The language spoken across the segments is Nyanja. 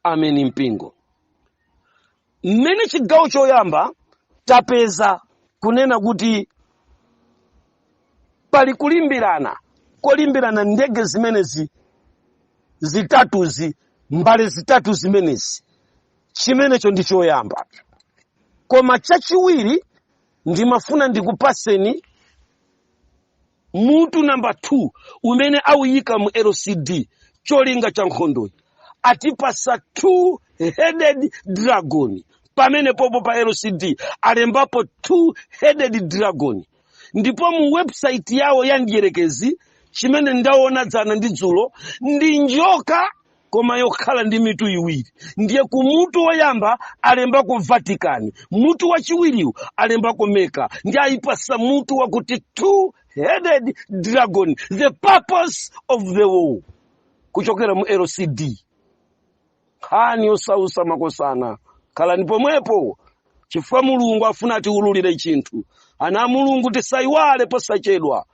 ameni mpingo mmene chigawo choyamba tapeza kunena kuti pali kulimbirana kolimbirana ndege zimenezi zitatuzi mbale zitatu zimenezi chimenecho ndi choyamba koma chachiwiri ndimafuna ndikupaseni mutu namba 2 umene auyika mu lcd cholinga cha nkhondoyi atipasa two headed dragon pamene popo pa lcd alembapo two headed dragon ndipo mu website yawo ya ndiyerekezi chimene ndaona dzana ndi dzulo ndi njoka koma yokhala ndi mitu iwiri ndiye ku mutu woyamba alembako vatican mutu wachiwiriwu alembako meka ndiye ayipasa mutu wakuti two headed dragon the purpose of the war kuchokera mu lcd nkhani yosausa makosana khalani pomwepo chifukwa mulungu afuna atiwululire chinthu ana a mulungu tisayiwale posachedwa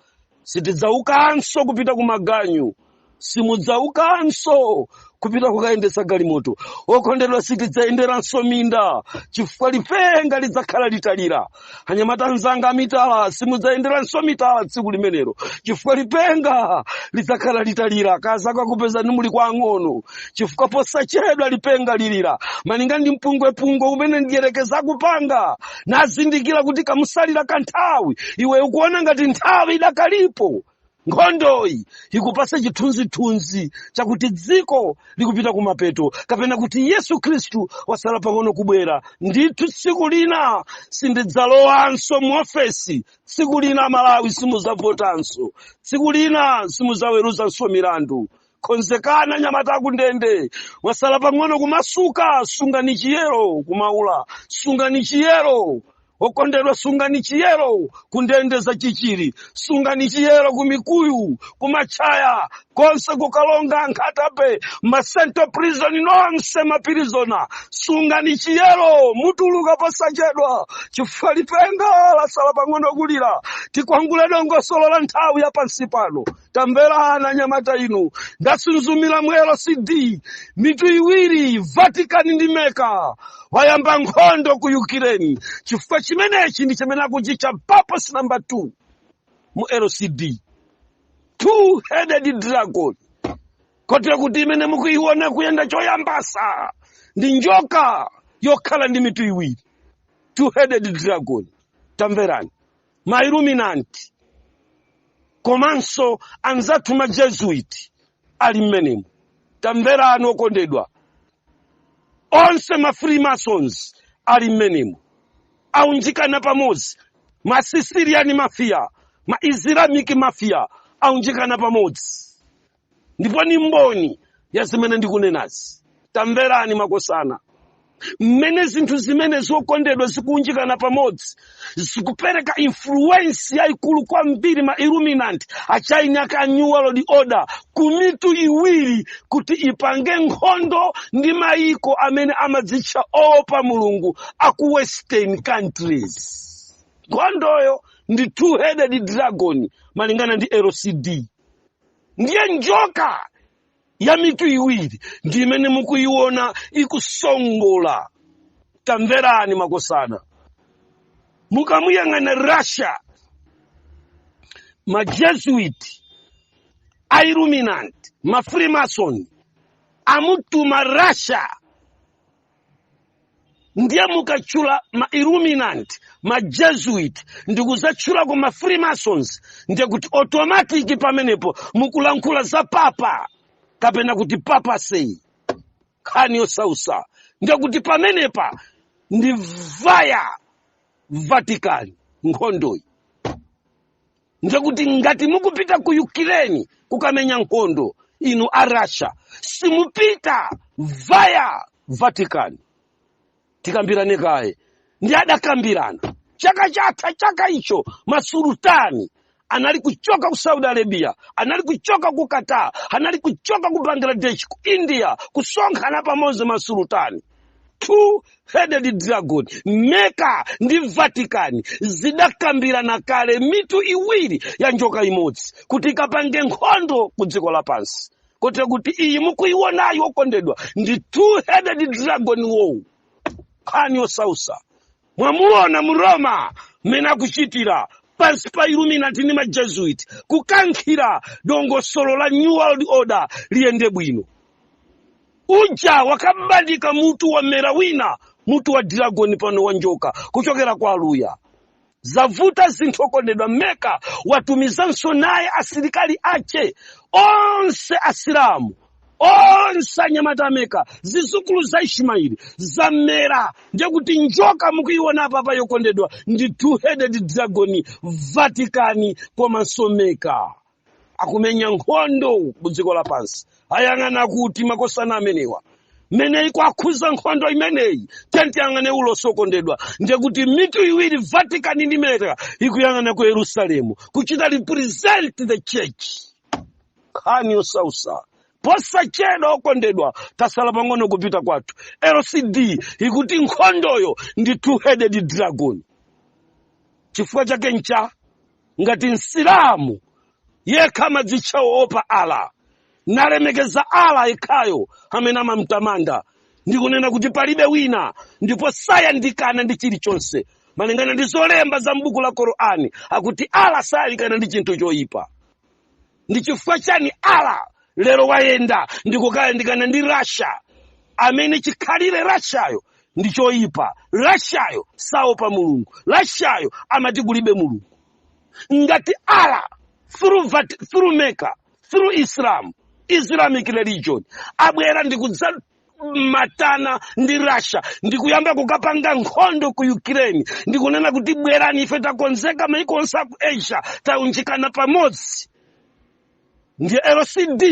sitidzaukanso kupita ku maganyu simudzaukanso kupita kukayendesa galimoto okondedwa sitidzayenderanso minda chifukwa lipenga lidzakhala litalira anyamata anzanga amitala simudzayenderanso mitala tsiku limenero chifukwa lipenga lidzakhala litalira akazako akupezani muli kwa ang'ono chifukwa posachedwa lipenga lilira malinga ndi mpungwepungwe umene ndiyerekezi akupanga nazindikira kuti kamusalira kanthawi iwe ukuona ngati nthawi idakalipo nkhondoyi ikupasa chithunzithunzi chakuti dziko likupita kumapeto kapena kuti yesu khristu wasala pang'ono kubwera ndithu tsiku lina sindidzalowanso mu ofesi tsiku lina malawi simudzavotanso tsiku lina simudzaweruzanso milandu konzekani anyamata akundende mwasala pang'ono kumasuka sungani chiyero kumaula sungani chiyero okondedwa sungani chiyero kundende za chichiri sungani chiyero kumikuyu kumatchaya konse kukalonga nkhatabay ma central prison nonse mapirizona sungani chiyero mutuluka posachedwa chifukwa lipenga lasala pang'ono kulira tikwangule dongosolo la nthawi ya pansi pano tamverani anyamata inu ndasunzumira mu lcd mitu iwiri vatican ndi meka wayamba nkhondo ku ukraine chifukwa chimenechi ndi chimene akuchitcha purpose namba 2 mu lcd two headed dragon kotero kuti imene mukuiona kuyenda choyambasa ndi njoka yokhala ndi mitu iwiri two headed dragon tamverani ma illuminati komanso anzathu ma jesuit ali mmenemu tamverani okondedwa onse ma freemasons ali mmenemu aunjikana pamodzi ma sicilian mafia ma islamic mafia aunjikana pamodzi ndipo ni mboni ya zimene ndikunenazi tamverani makosana mmene zinthu zimene zokondedwa zikuunjikana pamodzi zikupereka influence yayikulu kwambiri ma illuminati a china kaa new world order ku mitu iwiri kuti ipange nkhondo ndi mayiko amene amadzitcha oopa mulungu aku western countries nkhondoyo ndi two headed dragon malingana ndi lcd ndiye njoka ya mitu iwiri ndi imene mukuyiona ikusongola tamverani makosana mukamuyang'ana russia majesuit a illuminati mafreemason amutuma russia ndiye mukatchula ma illuminati ma jesuit ndi kudzatchulako ma freemasons ndiye kuti automatic pamenepo mukulankhula za papa kapena kuti papacy nkhani yosausa ndiye kuti pamenepa ndi via vatican nkhondoyi ndiye kuti ngati mukupita ku ukraine kukamenya nkhondo inu a russia simupita via vatican tikambirane kaye ndi adakambirana chaka chatha chaka icho masulutani anali kuchoka ku saudi arabia anali kuchoka ku qatar anali kuchoka ku bangladesh ku india kusonkhana pamodzi masulutani two headed dragon mecca ndi vatican zidakambirana kale mitu iwiri ya njoka imodzi kuti ikapange nkhondo ku dziko lapansi kotero kuti iyi mukuiwonayi okondedwa ndi two headed dragon wowu nkhani yosausa mwamuona mu roma mmene akuchitira pansi pa illuminati ndi majesuit kukankhira dongosolo la new world order liyende bwino njoka bandika mutu wamera wina mutu wa dragon pano wa njoka kuchokera kwa aluya zavuta zinthu okondedwa mecca watumizanso naye asilikali ache onse asilamu onse anyamata a Meka zizukulu za ishimaeli zammera ndiye kuti njoka mukuiona apayi okondedwa ndi two headed dragon vatikani komanso meka akumenya nkhondo mu dziko lapansi ayang'ana kuti makosana amenewa mmene ikuwakhudza nkhondo imeneyi tiyeni tiyang'ane ulosi okondedwa ndiye kuti mitu iwiri vatican ndi meka ikuyang'ana ku yerusalemu kuchita represent the church nkhani yosausa posachedwa okondedwa tasala pang'ono kupita kwathu lcd ikuti nkhondoyo ndi two-headed dragon chifukwa chake ncha? Ngati msilamu yekha amadzitcha woopa ala nalemekeza ala yekhayo amene amamtamanda ndi kunena kuti palibe wina ndipo sayandikana ndi chilichonse malingana ndi zolemba za m'buku la korani akuti ala sayandikana ndi chinthu choyipa ndi chifukwa chani ala lero wayenda ndikukayandikana ndi rasha amene chikhalire rashayo ndi choyipa rashayo saopa mulungu rashayo amati kulibe mulungu ngati ala through meka through islam islamic religion abwera ndi matana ndi russia ndikuyamba kukapanga nkhondo ku ukraine ndikunena kuti bwerani ife takonzeka maiko onse aku asia taunjikana pamodzi ndiye lcd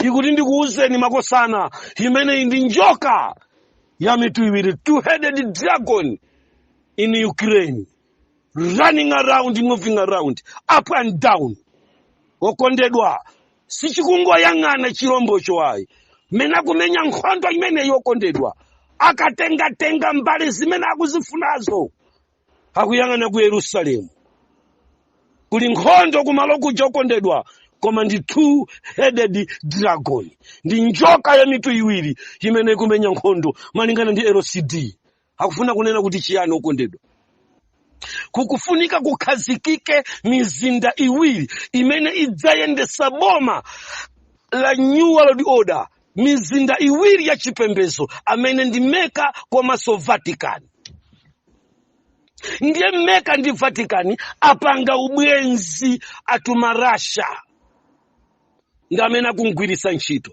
ikuti ndikuwuzeni makosana imeneyi ndi njoka ya mitu iwiri two-headed dragon in ukraine running around moving around up and down okondedwa sichikungoyang'ana chilombocho ayi mmene akumenya nkhondo imeneyi okondedwa akatengatenga mbali zimene akuzifunazo akuyang'ana ku yerusalemu kuli nkhondo kumalo kuja okondedwa koma ndi two headed dragon ndi njoka ya mitu iwiri imene ikumenya nkhondo malingana ndi lcd akufuna kunena kuti chiyani okondedwa kukufunika kukhazikike mizinda iwiri imene idzayendesa boma la new world order mizinda iwiri ya chipembezo amene ndi meka komanso vatican ndiye meka ndi vatican apanga ubwenzi atuma russia ndi amene akumgwiritsa ntchito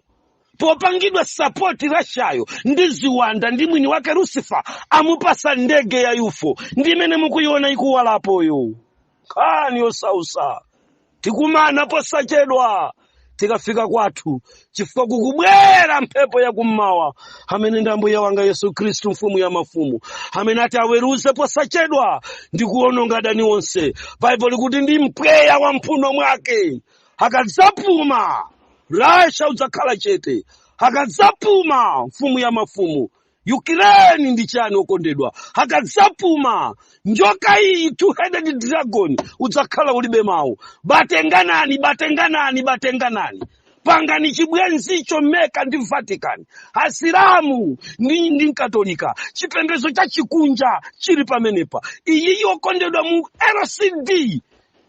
popangidwa sapoti rashayo ndi ziwanda ndi mwini wake lucifer amupasa ndege ya yufo ndi imene mukuyiona ikuwalapoyo nkhani yosausa tikumana posachedwa tikafika kwathu chifukwa kukubwera mphepo yakummawa amene ndi ambuye wanga yesu khristu mfumu ya mafumu amene ati aweruze posachedwa ndi kuwononga adani onse baibulo likuti ndi mpweya wa mphuno mwake akadzapuma Russia udzakhala chete akadzapuma mfumu ya mafumu Ukraine ndi chani okondedwa akadzapuma njoka iyi two headed dragon udzakhala ulibe mawu batenganani batenganani batenganani pangani chibwenzicho mecca ndi vatican asilamu ndi, ndi mkatolika chipembedzo cha chikunja chili pamenepa iyiyi okondedwa mu lcd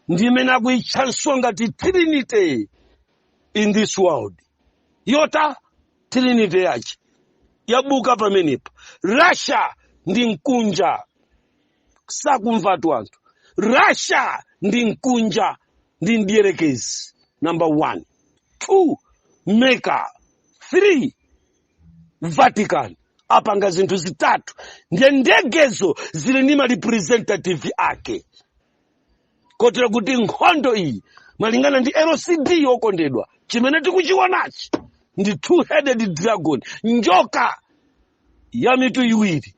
ndi imene akuyitchanso ngati trinity in this world yota trinity yace yabuka pamenepa russia ndi mkunja sakumvatu anthu russia ndi mkunja ndi mdierekezi number one two mecca three vatican apanga zinthu zitatu ndiye ndegezo zili ndi marepresentative ake kotera kuti nkhondo iyi malingana ndi lcd okondedwa chimene tikuchiwonachi ndi two headed dragon njoka ya mitu iwiri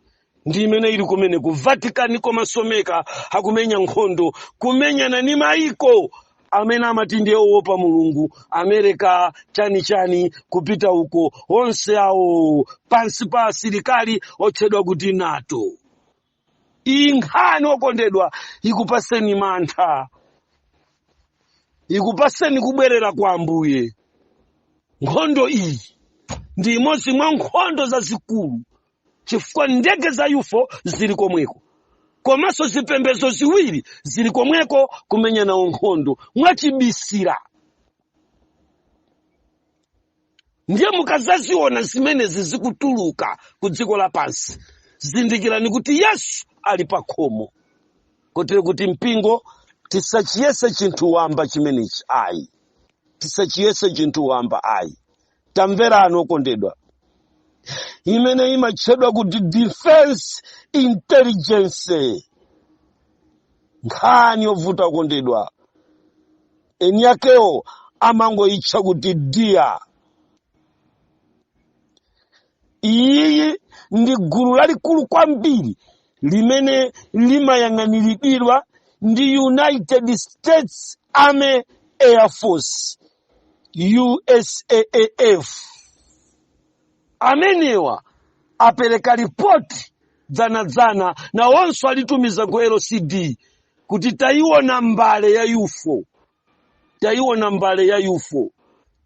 ndi imene ili kumene ku vatican komanso mecca akumenya nkhondo kumenyana ni maiko amene amati ndiye owopa mulungu america chani chani kupita uko onse awo pansi pa asilikali otchedwa kuti nato iyi nkhani okondedwa ikupaseni mantha ikupaseni kubwerera kwa ambuye nkhondo iyi ndi imodzi mwa nkhondo zazikulu chifukwa ndege za ufo zili komweko komanso zipembedzo ziwiri zili komweko kumenya nawo nkhondo mwachibisira ndiye mukazaziona zimenezi zikutuluka ku dziko lapansi zindikirani kuti yesu ali pa khomo kotero kuti mpingo tisachiyese chinthu wamba chimenechi ayi tisachiyese chinthu wamba ayi tamverani okondedwa imene imatchedwa kuti defense intelligence nkhani yovuta okondedwa eni akewo amangoyitcha kuti dia iyiyi ndi gulu lalikulu kwambiri limene limayang'aniridwa ndi united states army air force usaaf amenewa apereka ripoti dzanadzana nawonso alitumiza ku lcd kuti tayiona mbale ya UFO, tayiona mbale ya UFO,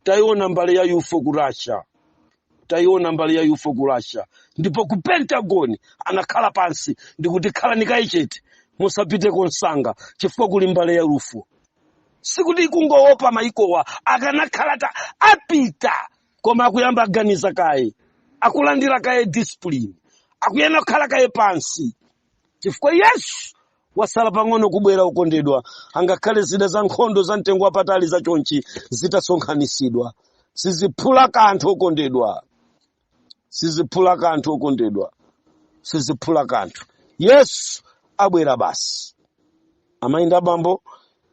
tayiona mbale ya UFO ku Russia, tayiona mbale ya UFO ku Russia. Ndipo ku Pentagon anakhala pansi ndikuti khalani kaye chete, musapite komsanga chifukwa kuli mbale ya UFO. Sikuti kungowopa mayikowa akanakhala atapita, koma akuyamba aganiza kaye, akulandira kaye discipline, akuyenera kukhala kaye pansi. chifukwa yesu wasala pang'ono kubwera okondedwa angakhale zida za nkhondo za mtengo wapatali za chonchi zitasonkhanitsidwa siziphula kanthu okondedwa siziphula kanthu okondedwa siziphula kanthu yesu abwera basi amayi ndi abambo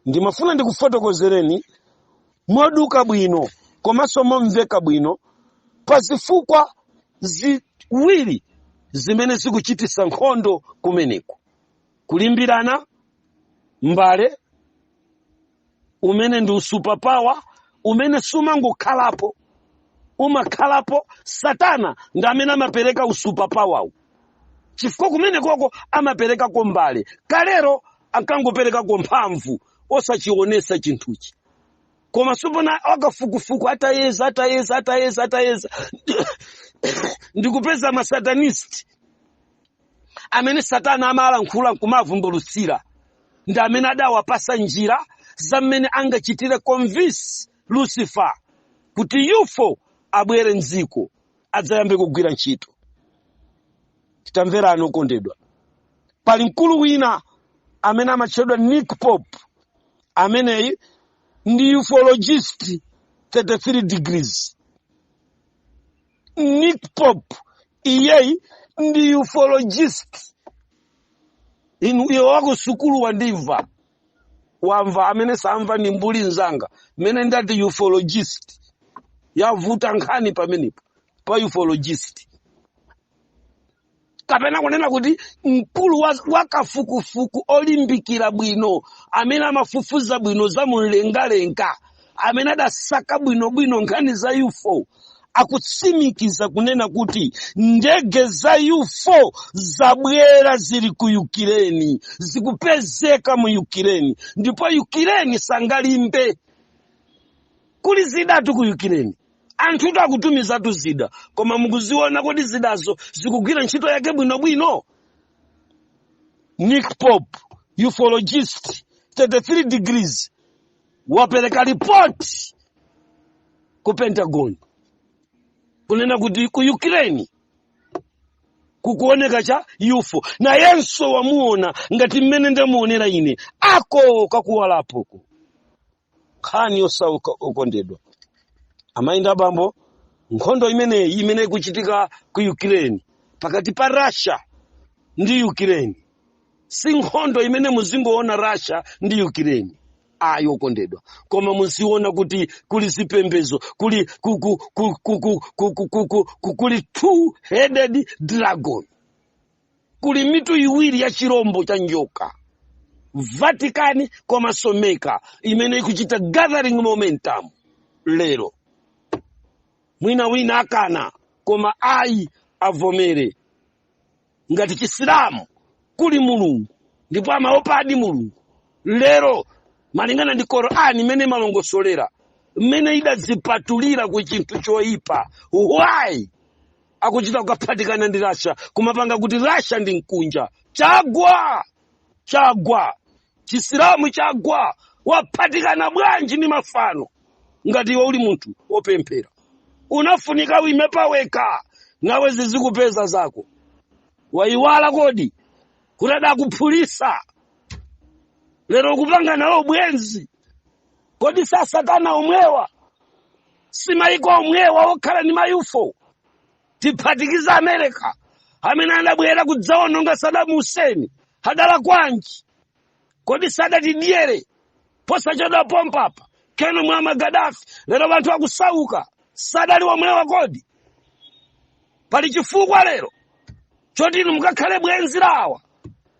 ndimafuna ndikufotokozereni moduka bwino komanso momveka bwino pa zifukwa ziwiri zimene zikuchititsa nkhondo kumeneko kulimbirana mbale umene ndi u-superpower umene sumangokhalapo umakhalapo satana ndi amene amapereka u-superpower-wu chifukwa kumenekoko amaperekako mbale kalero ankangoperekako mphamvu osachionetsa chinthuchi koma tsopano akafukufuku atayeza atayeza atayeza atayeza ndikupeza masatanist amene satana amalankhula nkumavumbulutsira ndi amene adawapatsa njira za mmene angachitire convince lucifer kuti UFO abwere mdziko adzayambe kugwira ntchito tamverani okondedwa pali mkulu wina amene amatchedwa nick pope ameneyi ndi ufologist 33 degrees nick pope iyeyi ndi ufologist inu iwe wa kusukulu wandimva wamva amene samva ndi mbuli nzanga mmene ndati ufologist yavuta nkhani pamenepo pa ufologist kapena kunena kuti mkulu wa kafukufuku olimbikira bwino amene amafufuza bwino za mumlengalenga amene adasaka bwinobwino nkhani za ufo akutsimikiza kunena kuti ndege za ufo zabwera zili ku ukireni zikupezeka mu ukireni ndipo ukireni sangalimbe kuli zidatu ku ukireni anthutu akutumizatu zida koma mukuziona kodi zidazo zikugwira ntchito yake bwinobwino nick pope ufologist 33 degrees wapereka ripoti ku pentagon kunena kuti ku ukraine kukuoneka cha ufo nayenso wamuona ngati mmene ndamuonera ine ako kakuwalapoko nkhani yosauka okondedwa amayi ndi abambo nkhondo imeneyi imene ikuchitika ku ukraine pakati pa russia ndi ukraine si nkhondo imene muzingoona russia ndi ukraine ayi okondedwa koma muziona kuti kuli zipembezo kul- kuli two headed dragon kuli mitu iwiri ya chirombo cha njoka vatican komanso mecca imene ikuchita gathering momentum lero mwina wina akana koma ayi avomere ngati chisilamu kuli mulungu ndipo amaopadi mulungu lero malingana ndi korani imene imalongosolera mmene idazipatulira ku chinthu choyipa why akuchita kukaphatikana ndi russia kumapanga kuti russia ndi mkunja chagwa chagwa chisilamu chagwa waphatikana bwanji ndi mafano ngati iwe uli munthu wopemphera unafunika uime paweka nawe zizikupeza zako waiwala kodi kuti adakuphulisa lero ukupanga nawo ubwenzi kodi si asatana omwewa si maiko omwewa okhala ndi mayufo tiphatikiza america amene anabwera kudzaononga saddam hussein adala kwanji kodi sadatidyere posachedwa pompapa keno muammar gaddafi lero anthu akusauka sadali omwewa kodi pali chifukwa lero choti inu mukakhale bwenzi lawa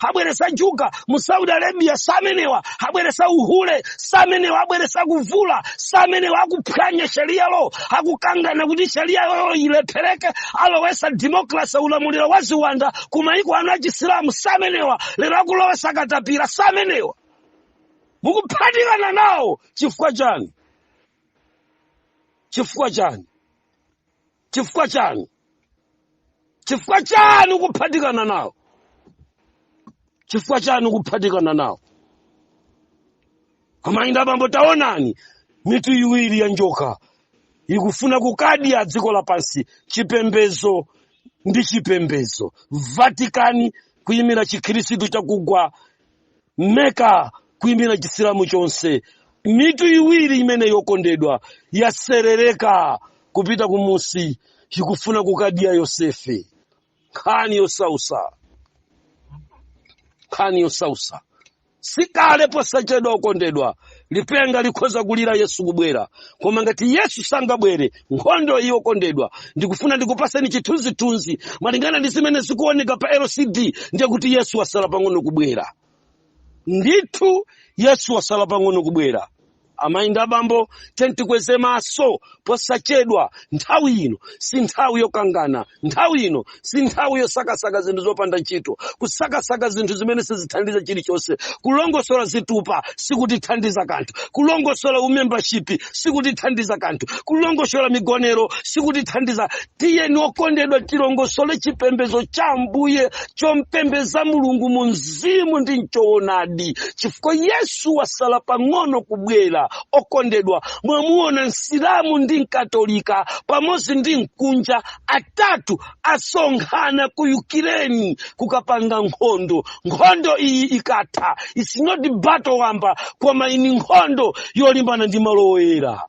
abweresa njuga mu saudi arabia samenewa abweresa uhule samenewa abweresa kuvula samenewa akuphwanya sharia law akukangana kuti sharia law ilephereke alowesa democracy ulamuliro wa ziwanda ku maiko anu achisilamu samenewa lero akulowesa katapira samenewa mukuphatikana nawo chifukwa chani chifukwa chani chifukwa chani chifukwa chani ukuphatikana nawo chifukwa chani ukuphatikana nawo amayi ndi abambo taonani mitu iwiri ya njoka ikufuna kukadya dziko lapansi chipembezo ndi chipembezo vatikani kuyimira chikhristu chakugwa meka kuimira chisilamu chonse mitu iwiri imeneyi okondedwa yaserereka kupita kumunsi ikufuna kukadya yosefe nkhani yosausa nkhani yosausa sikale posachedwa okondedwa lipenga likhoza kulira yesu kubwera koma ngati yesu sangabwere nkhondo iyi okondedwa ndikufuna ndikupaseni chithunzithunzi malingana ndi zimene zikuoneka pa lcd ndiye kuti yesu wasala pang'ono kubwera ndithu yesu wasala pang'ono kubwera amayi ndi abambo tiyeni tikweze maso posachedwa nthawi ino si nthawi yokangana nthawi ino si nthawi yosakasaka zinthu zopanda ntchito kusakasaka zinthu zimene sizithandiza chilichonse kulongosola zitupa sikutithandiza kanthu kulongosola umembashipi sikutithandiza kanthu kulongosola migonero sikutithandiza tiyeni okondedwa tilongosole chipembedzo cha ambuye chompembedza mulungu mu mzimu ndi mchoonadi chifukwa yesu wasala pang'ono kubwera okondedwa mwamuona msilamu ndi mkatolika pamodzi ndi mkunja atatu asonkhana ku ukireni kukapanga nkhondo nkhondo iyi ikatha its not battle wamba koma iyi ndi nkhondo yolimbana ndi malo oyera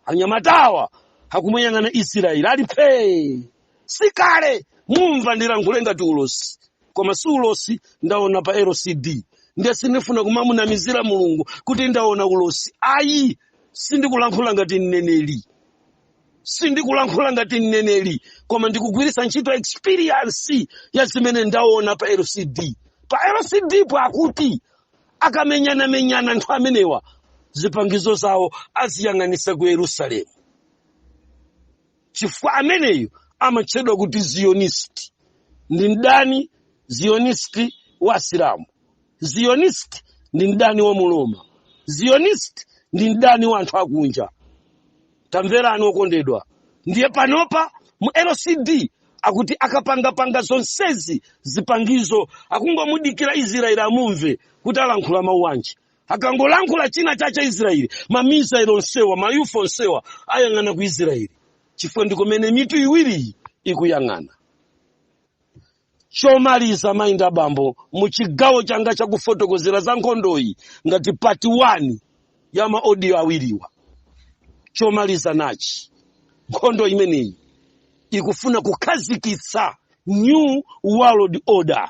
anyamatawa akumuyang'ana israeli ali phee sikale mumva ndilankhule ngati ulosi koma si ulosi ndaona pa lcd ndiye sindifuna kumamunamizira mulungu kuti ndaona ulosi ayi sindikulankhula ngati mneneri sindikulankhula ngati mneneri koma ndikugwiritsa ntchito experience ya zimene ndaona pa lcd pa lcdpo akuti akamenyanamenyana anthu amenewa zipangizo zawo aziyang'anisa ku yerusalemu chifukwa ameneyu amatchedwa kuti zionist ndi mdani zionist wa asilamu zionist ndi mdani wa mroma zionist ndi mdani wa anthu akunja tamverani okondedwa ndiye panopa mu lcd akuti akapangapanga zonsezi zipangizo akungomudikira israeli amumve kuti alankhula mawu anji akangolankhula chinachake israeli mamisailo onsewa mayufo onsewa ayang'ana ku israeli chifukwa ndikomene mitu iwiriyi ikuyang'ana chomaliza amayi ndi abambo mu chigawo changa chakufotokozera za nkhondoyi ngati pati 1 ya maodiyo awiriwa chomaliza nachi nkhondo imeneyi ikufuna kukhazikitsa new world order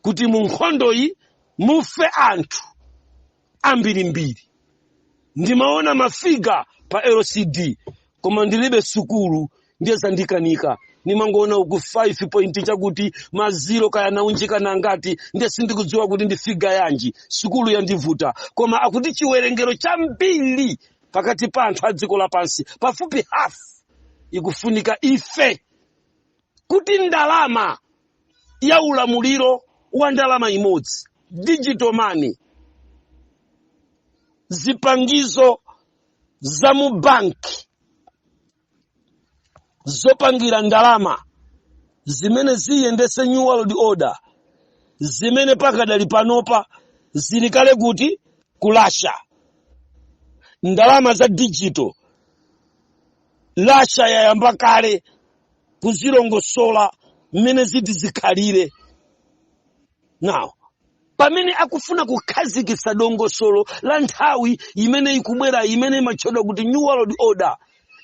kuti mu nkhondoyi mufe anthu ambirimbiri ndimaona mafiga pa lcd koma ndilibe sukulu ndiye zandikanika ndimangoona uku 5 point chakuti maziro kaya anaunjikana ngati ndiye sindikudziwa kuti ndi figa yanji sukulu yandivuta koma akuti chiwerengero chambiri pakati pa anthu a dziko lapansi pafupi hafu ikufunika ife kuti ndalama ya ulamuliro wa ndalama imodzi digital money zipangizo za mu banki zopangira ndalama zimene ziyendetse new world order zimene pakadali panopa zili kale kuti ku Russia ndalama za digital Russia yayamba kale kuzilongosola mmene ziti zikhalire now pamene akufuna kukhazikitsa dongosolo la nthawi imene ikubwera imene imatchedwa kuti new world order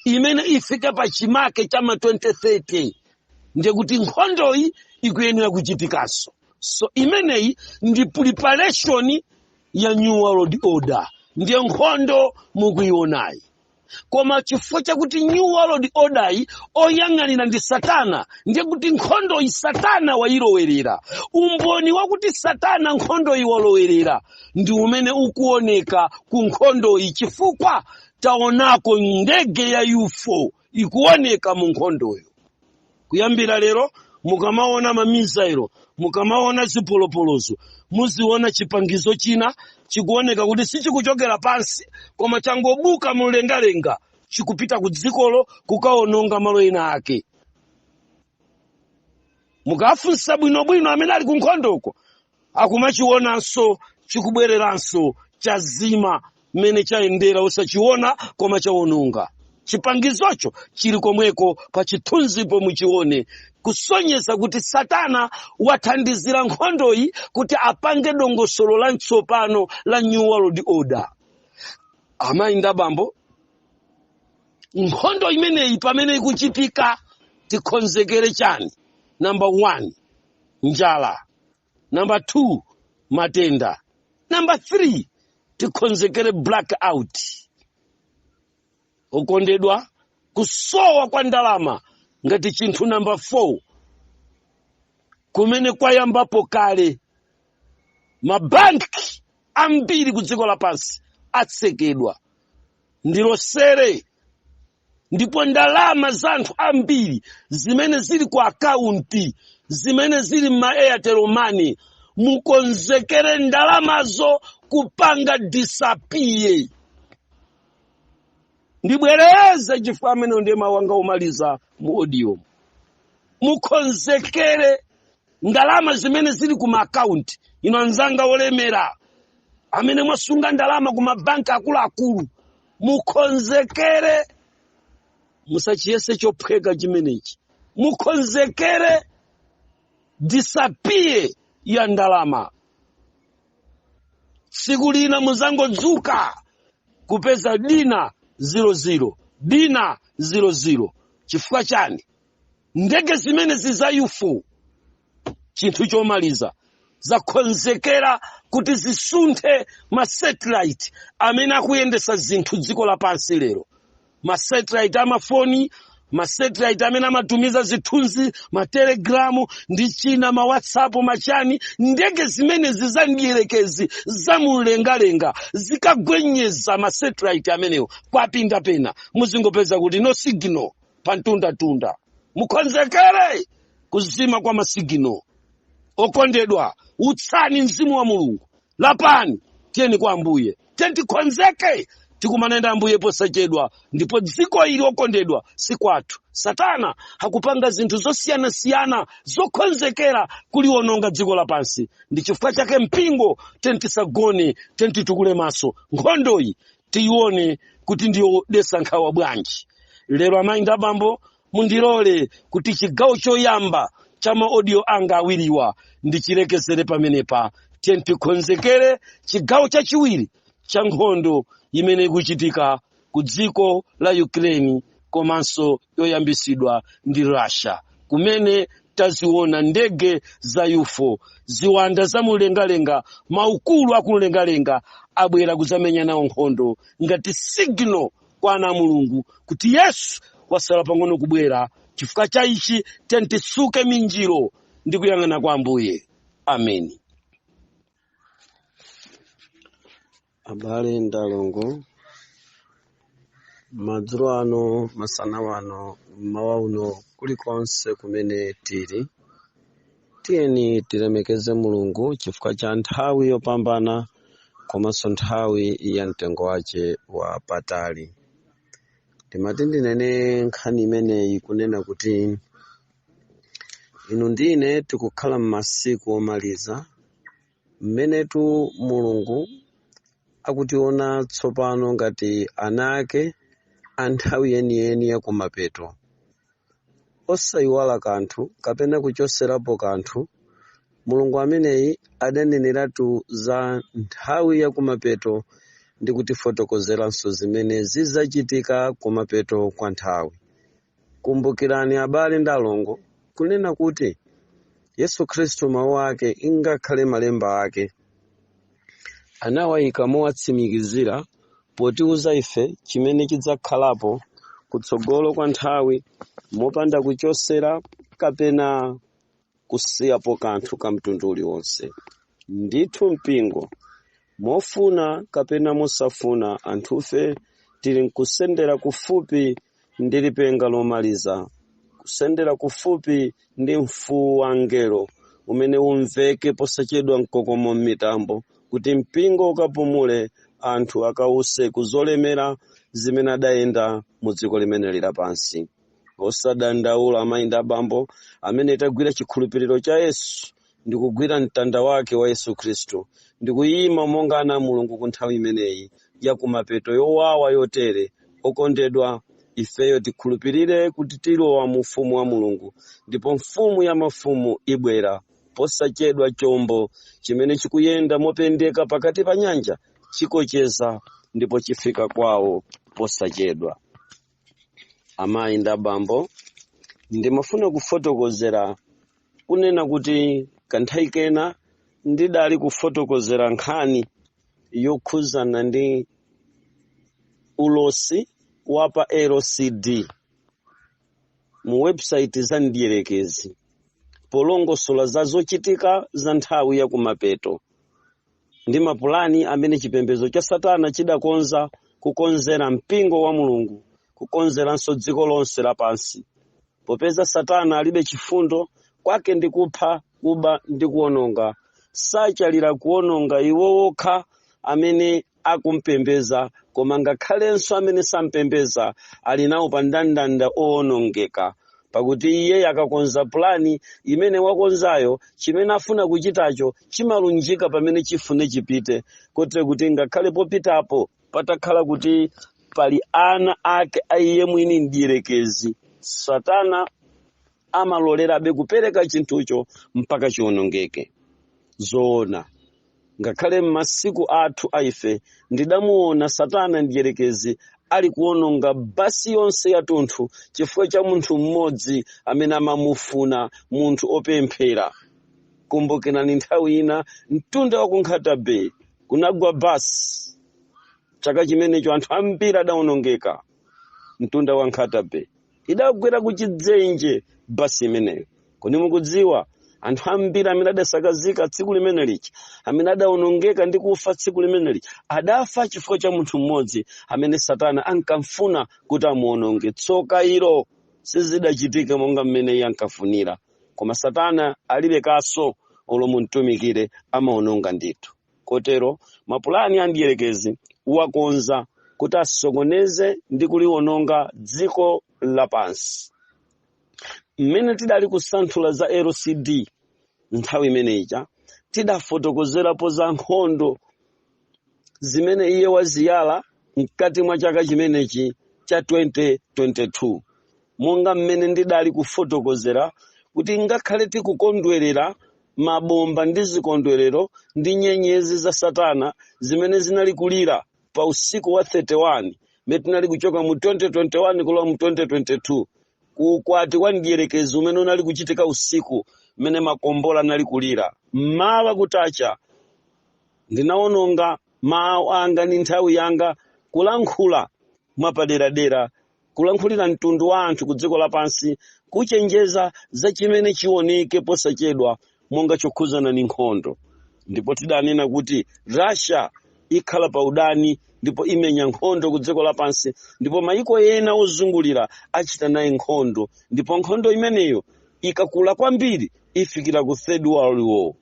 imene ifike pa chimake cha ma 2030 ndiye kuti nkhondoyi ikuyenera kuchitikanso so imeneyi ndi preparation ya new world order ndiye nkhondo mukuionayi koma chifukwa chakuti new world order yi oyang'anira ndi satana ndiye kuti nkhondoyi satana wayilowerera umboni wakuti satana nkhondoyi walowerera ndi umene ukuoneka ku nkhondoyi chifukwa taonako ndege ya ufo ikuoneka mu nkhondoyo kuyambira lero mukamaona mamisailo mukamaona zipolopolozo muziona chipangizo china chikuoneka kuti sichikuchokera pansi koma changobuka mlengalenga chikupita ku dzikolo kukaononga malo ena ake mukafunsa bwinobwino amene ali kunkhondoko akumachionanso chikubwereranso chazima mmene chayendera osachiona koma chawononga chipangizocho chili komweko pa chithunzipo muchione kusonyeza kuti satana wathandizira nkhondoyi kuti apange dongosolo latsopano la new world order amayi ndi abambo nkhondo imeneyi pamene ikuchitika tikonzekere chani number one njala namba 2 matenda namba 3 tikhonzekere blackout okondedwa kusowa kwa ndalama ngati chinthu namba 4 kumene kwayambapo kale mabanki ambiri ku dziko lapansi atsekedwa ndilosere ndipo ndalama za anthu ambiri zimene zili ku akaunti zimene zili mma airtel money mukonzekere ndalamazo kupanga disappear ndibwereze chifukwa amene ndiye mawu anga omaliza mu audio mukonzekere ndalama zimene zili ku maakaunti inu anzanga olemera amene mwasunga ndalama ku mabanki akuluakulu mukonzekere musachiyese chophweka chimenechi mukonzekere disappear ya ndalama tsiku lina muzangodzuka kupeza dina 00 dina 00 chifukwa chani ndege zimene zi za ufo chinthu chomaliza zakonzekera kuti zisunthe masatellite amene akuyendesa zinthu dziko lapansi lero masatellite amafoni masatellite amene amatumiza zithunzi matelegramu ndi china mawhatsapp machani ndege zimenezi za mdyerekezi za mumlengalenga zikagwenyeza masatellite amenewo kwapinda pena muzingopeza kuti no signal pa mtundatunda mukonzekere kuzima kwa masigino okondedwa utsani mzimu wa mulungu lapani tiyeni kwa ambuye tiyeni tikonzeke tikumane ndi ambuye posachedwa ndipo dziko ili okondedwa si kwathu satana akupanga zinthu zosiyanasiyana zokonzekera kuliwononga dziko lapansi ndi chifukwa chake mpingo tiyeni tisagone tiyeni titukule maso nkhondoyi tiyione kuti ndi yodesa nkhawa bwanji lero amayi ndi abambo mundilole kuti chigawo choyamba cha maodiyo anga awiriwa ndichilekezere pamenepa tiyeni tikonzekere chigawo chachiwiri cha nkhondo imene ikuchitika ku dziko la ukraine komanso yoyambitsidwa ndi russia kumene taziona ndege za ufo ziwanda za mumlengalenga maukulu akumlengalenga abwera kuzamenya nawo nkhondo ngati signal kwa ana a mulungu kuti yesu wasala pang'ono kubwera chifukwa cha ichi tiyeni tisuke minjiro ndi kuyang'ana kwa ambuye ameni abale ndi alongo madzulo ano masana wano mmawa uno kulikonse kumene tili tiyeni tilemekeze mulungu chifukwa cha nthawi yopambana komanso nthawi ya mtengo wace wa patali ndimati ndinene nkhani imeneyi kunena kuti inu ndi ine tikukhala m'masiku omaliza mmenetu mulungu akutiona tsopano ngati ana ake a nthawi yeniyeni ya kumapeto osayiwala kanthu kapena kuchoserapo kanthu mulungu ameneyi adaneneratu za nthawi ya kumapeto ndi kutifotokozeranso zimene zidzachitika kumapeto kwa nthawi Kumbukirani abale ndi alongo kunena kuti Yesu Khristu mawu ake ingakhale malemba ake anawayika mowatsimikizira potiuza ife chimene chidzakhalapo kutsogolo kwa nthawi mopanda kuchosera kapena kusiyapo kanthu ka mtundu uliwonse. Ndithu mpingo, mofuna kapena mosafuna, anthufe tili nkusendera kufupi ndi lipenga lomaliza, kusendera kufupi ndi mfuwu wa mngelo umene umveke posachedwa mkokomo m'mitambo, kuti mpingo ukapumule, anthu akause ku zolemera zimene adayenda mu dziko limene lili lapansi. osadandaula amayi ndi abambo amene tagwira chikhulupiriro cha yesu ndi kugwira mtanda wake wa yesu khristu ndi kuyima monga ana a mulungu ku nthawi imeneyi ya kumapeto yowawa yotere okondedwa ifeyo tikhulupirire kuti tilowa mu ufumu wa mulungu ndipo mfumu ya mafumu ibwera posachedwa chombo chimene chikuyenda mopendeka pakati pa nyanja chikocheza ndipo chifika kwawo posachedwa amayi ndi abambo ndimafuna kufotokozera kunena kuti kanthawi kena ndidali kufotokozera nkhani yokhuzana ndi ulosi wa pa lcd mu website za mdierekezi polongosola za zochitika za nthawi ya kumapeto ndi mapulani amene chipembedzo cha satana chidakonza kukonzera mpingo wa mulungu kukonzeranso dziko lonse lapansi popeza satana alibe chifundo kwake ndi kupha kuba ndi kuononga sachalira kuononga iwo wokha amene akumpembeza koma ngakhalenso amene sampembeza ali nawo pa ndandanda oonongeka pakuti iye akakonza pulani imene wakonzayo chimene afuna kuchitacho chimalunjika pamene chifune chipite kotero kuti ngakhale popitapo patakhala kuti pali ana ake a iye mwini mdierekezi satana amalolerabe kupereka chinthucho mpaka chionongeke zoona Ngakhale m'masiku athu a ife, ndidamuwona Satana Mdyerekezi ali kuwononga basi yonse yatunthu chifukwa cha munthu mmodzi amene amamufuna, munthu opemphera. Kumbukirani nthawi ina mtunda wa ku Nkhata Bay kunagwa basi. Chaka chimenecho anthu ambiri adawonongeka mtunda wa Nkhata Bay. idagwera ku chidzenje basi imeneyo kodi mukudziwa anthu ambiri amene adasakazika tsiku limene lija amene adaonongeka ndi kufa tsiku limene lija adafa chifukwa cha munthu mmodzi amene satana ankamfuna kuti amuononge tsoka ilo sizidachitike monga mmene iye ankafunira koma satana alibe kaso olo mumtumikire amaononga ndithu Kotero, mapulani a mdierekezi wakonza kuti asokoneze ndi kuliwononga dziko lapansi. Mmene tidali kusanthula za LCD nthawi imene ija, tidafotokozerapo za nkhondo zimene iye waziyala mkati mwa chaka chimenechi cha 2022. monga mmene ndidali kufotokozera kuti ngakhale tikukondwerera mabomba ndi zikondwerero ndi nyenyezi za satana zimene zinali kulira pa usiku wa 31 mmene tinali kuchoka mu 2021 kulowa mu 2022 ku ukwati kwa mdierekezi umene unali kuchitika usiku mmene makombola anali kulira mmawa kutacha ndinawononga mawu anga ndi nthawi yanga kulankhula mwapaderadera kulankhulira mtundu wa anthu ku dziko lapansi kuchenjeza za chimene chioneke posachedwa monga chokhudzana ndi nkhondo ndipo tidanena kuti russia ikhala pa udani ndipo imenya nkhondo ku dziko lapansi ndipo mayiko ena ozungulira achita naye nkhondo ndipo nkhondo imeneyo ikakula kwambiri ifikira ku third world war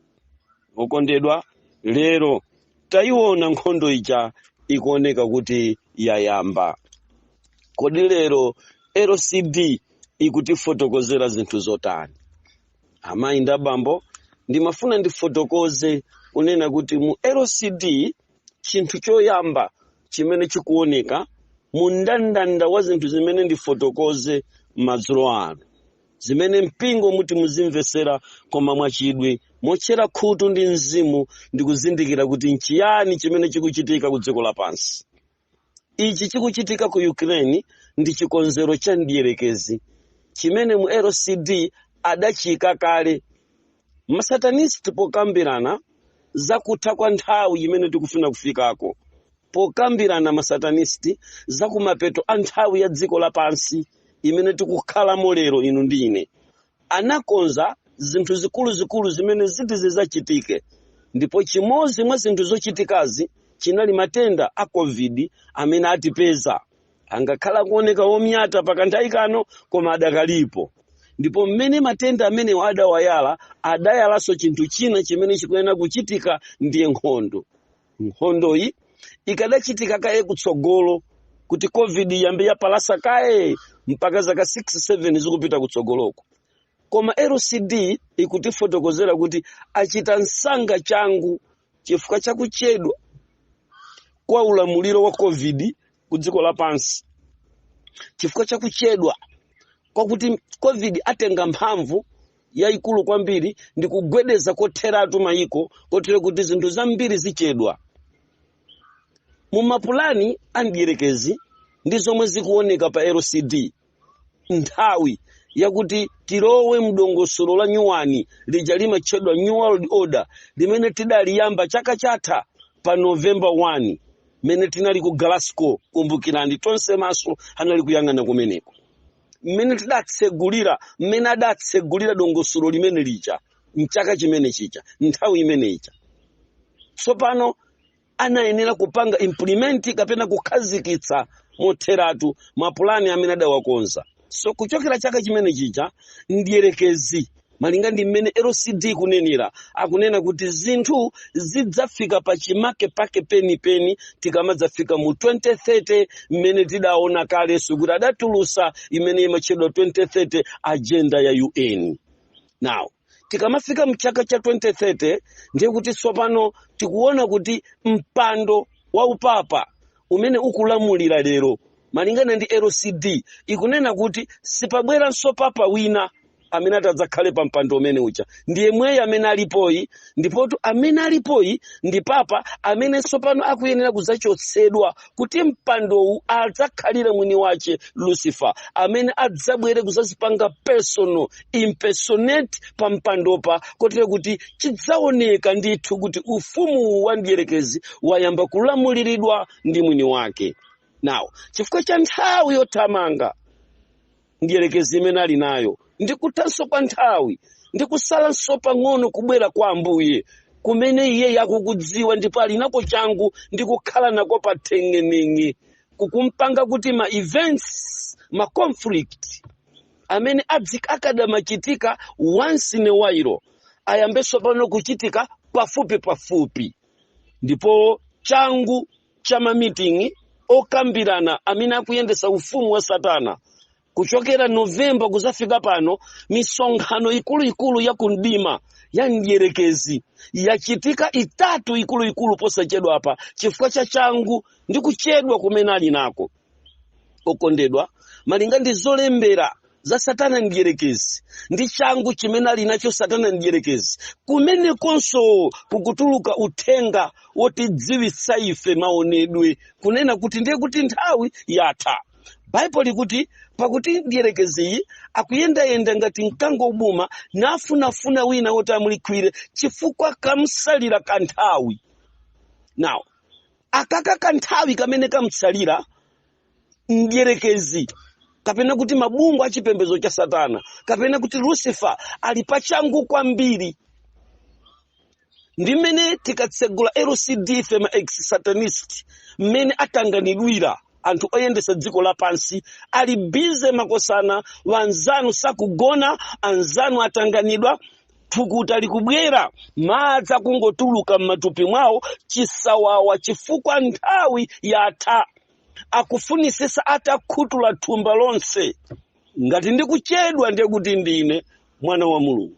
okondedwa lero tayiona nkhondo ija ikuoneka kuti yayamba kodi lero lcd ikutifotokozera zinthu zotani amayi ndi abambo ndimafuna ndifotokoze kunena kuti mu lcd chinthu choyamba chimene chikuoneka mu ndandanda wa zinthu zimene ndifotokoze madzulo ano zimene mpingo muti muzimvetsera koma mwachidwi motchera khutu ndi mzimu ndi kuzindikira kuti nchiyani chimene chikuchitika ku dziko lapansi ichi chikuchitika ku ukraine ndi chikonzero cha mdierekezi chimene mu lcd adachiyika kale masatanist pokambirana za kutha kwa nthawi imene tikufuna kufikako pokambirana masatanist za kumapeto a nthawi ya dziko lapansi imene tikukhalamo lero inu ndi ine anakonza zinthu zikuluzikulu zimene ziti zidzachitike ndipo chimodzi mwa zinthu zochitikazi chinali matenda a covid amene atipeza angakhala kuoneka omyata pakanthawi kano koma adakalipo ndipo mmene matenda amenewa adawayala adayalanso chinthu china chimene chikuyenera kuchitika ndiye nkhondo nkhondoyi ikadachitika kaye kutsogolo kuti covid iyambe yapalasa kaye mpaka zaka 6 7 zikupita kutsogoloko koma lcd ikutifotokozera kuti achita msanga changu chifukwa cha kuchedwa kwa ulamuliro wa covid ku dziko lapansi chifukwa cha kuchedwa kwakuti covid atenga mphamvu yayikulu kwambiri ndi kugwedeza kotheratu mayiko kotero kuti zinthu zambiri zichedwa mu mapulani a mdierekezi ndi zomwe zikuoneka pa lcd nthawi yakuti tilowe mdongosolo la nyuwani lija limatchedwa new world order limene tidaliyamba chaka chatha pa november 1 mmene tinali ku glasgow kumbukirani tonse maso anali kuyang'ana kumeneko mmene tidatsegulira mmene adatsegulira dongosolo limene lija mchaka chimene chija nthawi imene ija tsopano anayenera kupanga implement kapena kukhazikitsa motheratu mapulani amene adawakonza so kuchokera chaka chimene chija mdierekezi malinga ndi mmene lcd ikunenera akunena kuti zinthu zidzafika pa chimake pake penipeni tikamadzafika mu 2030 mmene tidaona kalenso kuti adatulutsa imene imatchedwa 2030 agenda ya un now tikamafika mchaka cha 2030 ndiye kuti tsopano tikuona kuti mpando wa upapa umene ukulamulira lero malingana ndi lcd ikunena kuti sipabweranso papa wina amene atadzakhale pa mpando umene uja ndi yemweyo amene alipoyi ndipotu amene alipoyi ndi papa amene tsopano akuyenera kudzachotsedwa kuti mpandowu adzakhalire mwini wache lucifer amene adzabwere kudzadzipanga personal impersonate pa mpandopa kotero kuti chidzaoneka ndithu kuti ufumu wa mdierekezi wayamba kulamuliridwa ndi mwini wake now chifukwa cha nthawi yothamanga mdierekezi imene ali nayo ndi kuthanso kwa nthawi ndi kusalanso pang'ono kubwera kwa ambuye kumene iye akukudziwa ndipo ali nako changu ndi kukhala nako pa theng'eneng'e kukumpanga kuti ma events ma conflict amene adzi akadamachitika once in a while ayambenso pano kuchitika pafupi pafupi ndipo changu cha mamiting'i okambirana amene akuyendetsa ufumu wa satana kuchokera novemba kuzafika pano misonkhano ikuluikulu ya kumdima ya mdierekezi yachitika itatu ikuluikulu posachedwa apa chifukwa cha changu ndi kuchedwa kumene ali nako okondedwa malinga ndi zolembera za satana mdyerekezi ndi changu chimene ali nacho satana mdyerekezi kumenekonso kukutuluka uthenga wotidziwitsa ife maonedwe kunena kuti ndiye kuti nthawi yatha baibulo likuti pakuti mdyerekeziyi akuyendayenda ngati mkango wobuma nafunafuna wina woti amulikhwire chifukwa kamsalira kanthawi now akaka kanthawi kamene kamutsalira mdyerekezi kapena kuti mabungwe a chipembedzo cha satana kapena kuti lucifer ali pachangu kwambiri ndi mmene tikatsegula lcd ife ma ex satanist mmene atanganidwira anthu oyendesa dziko lapansi ali bize makosana anzanu sakugona anzanu atanganidwa thukuta likubwera madzi akungotuluka m'matupi mwawo chisawawa chifukwa nthawi yatha akufunisisa atakhutula thumba lonse ngati ndikuchedwa ndiye kuti ndine mwana wa mulungu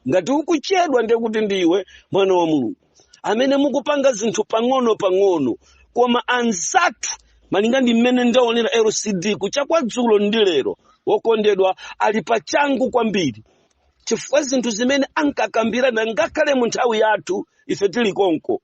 ngati ukuchedwa ndiye kuti ndiwe mwana wa mulungu amene mukupanga zinthu pang'ono pang'ono koma anzathu malinga ndi mmene ndaonera lcd kucha kwa dzulo ndi lero wokondedwa ali pachangu kwambiri chifukwa zinthu zimene ankakambirana ngakhale mu nthawi yathu ife tili konko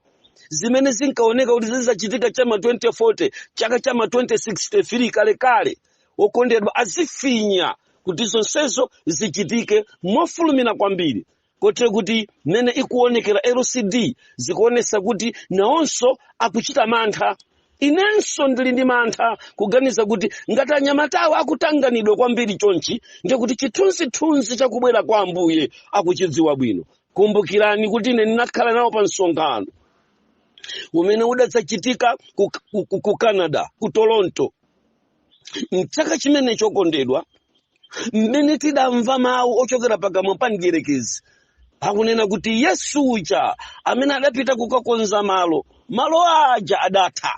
zimene zinkaoneka kuti zidzachitika cha ma 2040 chaka cha ma 2063 kalekale okondedwa azifinya kuti zonsezo zichitike mofulumira kwambiri kotero kuti mmene ikuonekera lcd zikuonesa kuti nawonso akuchita mantha inenso ndili ndi mantha kuganiza kuti ngati anyamatawa akutanganidwa kwambiri chonchi ndiye kuti chithunzithunzi cha kubwera kwa ambuye akuchidziwa bwino kumbukirani kuti ine ndinakhala nawo pa msonkhano umene udadzachitika ku, ku, ku, ku canada ku toronto mchaka chimene chokondedwa mmene tidamva mawu ochokera pakamwa pa mdierekezi akunena kuti yesu uja amene adapita kukakonza malo malo aja adatha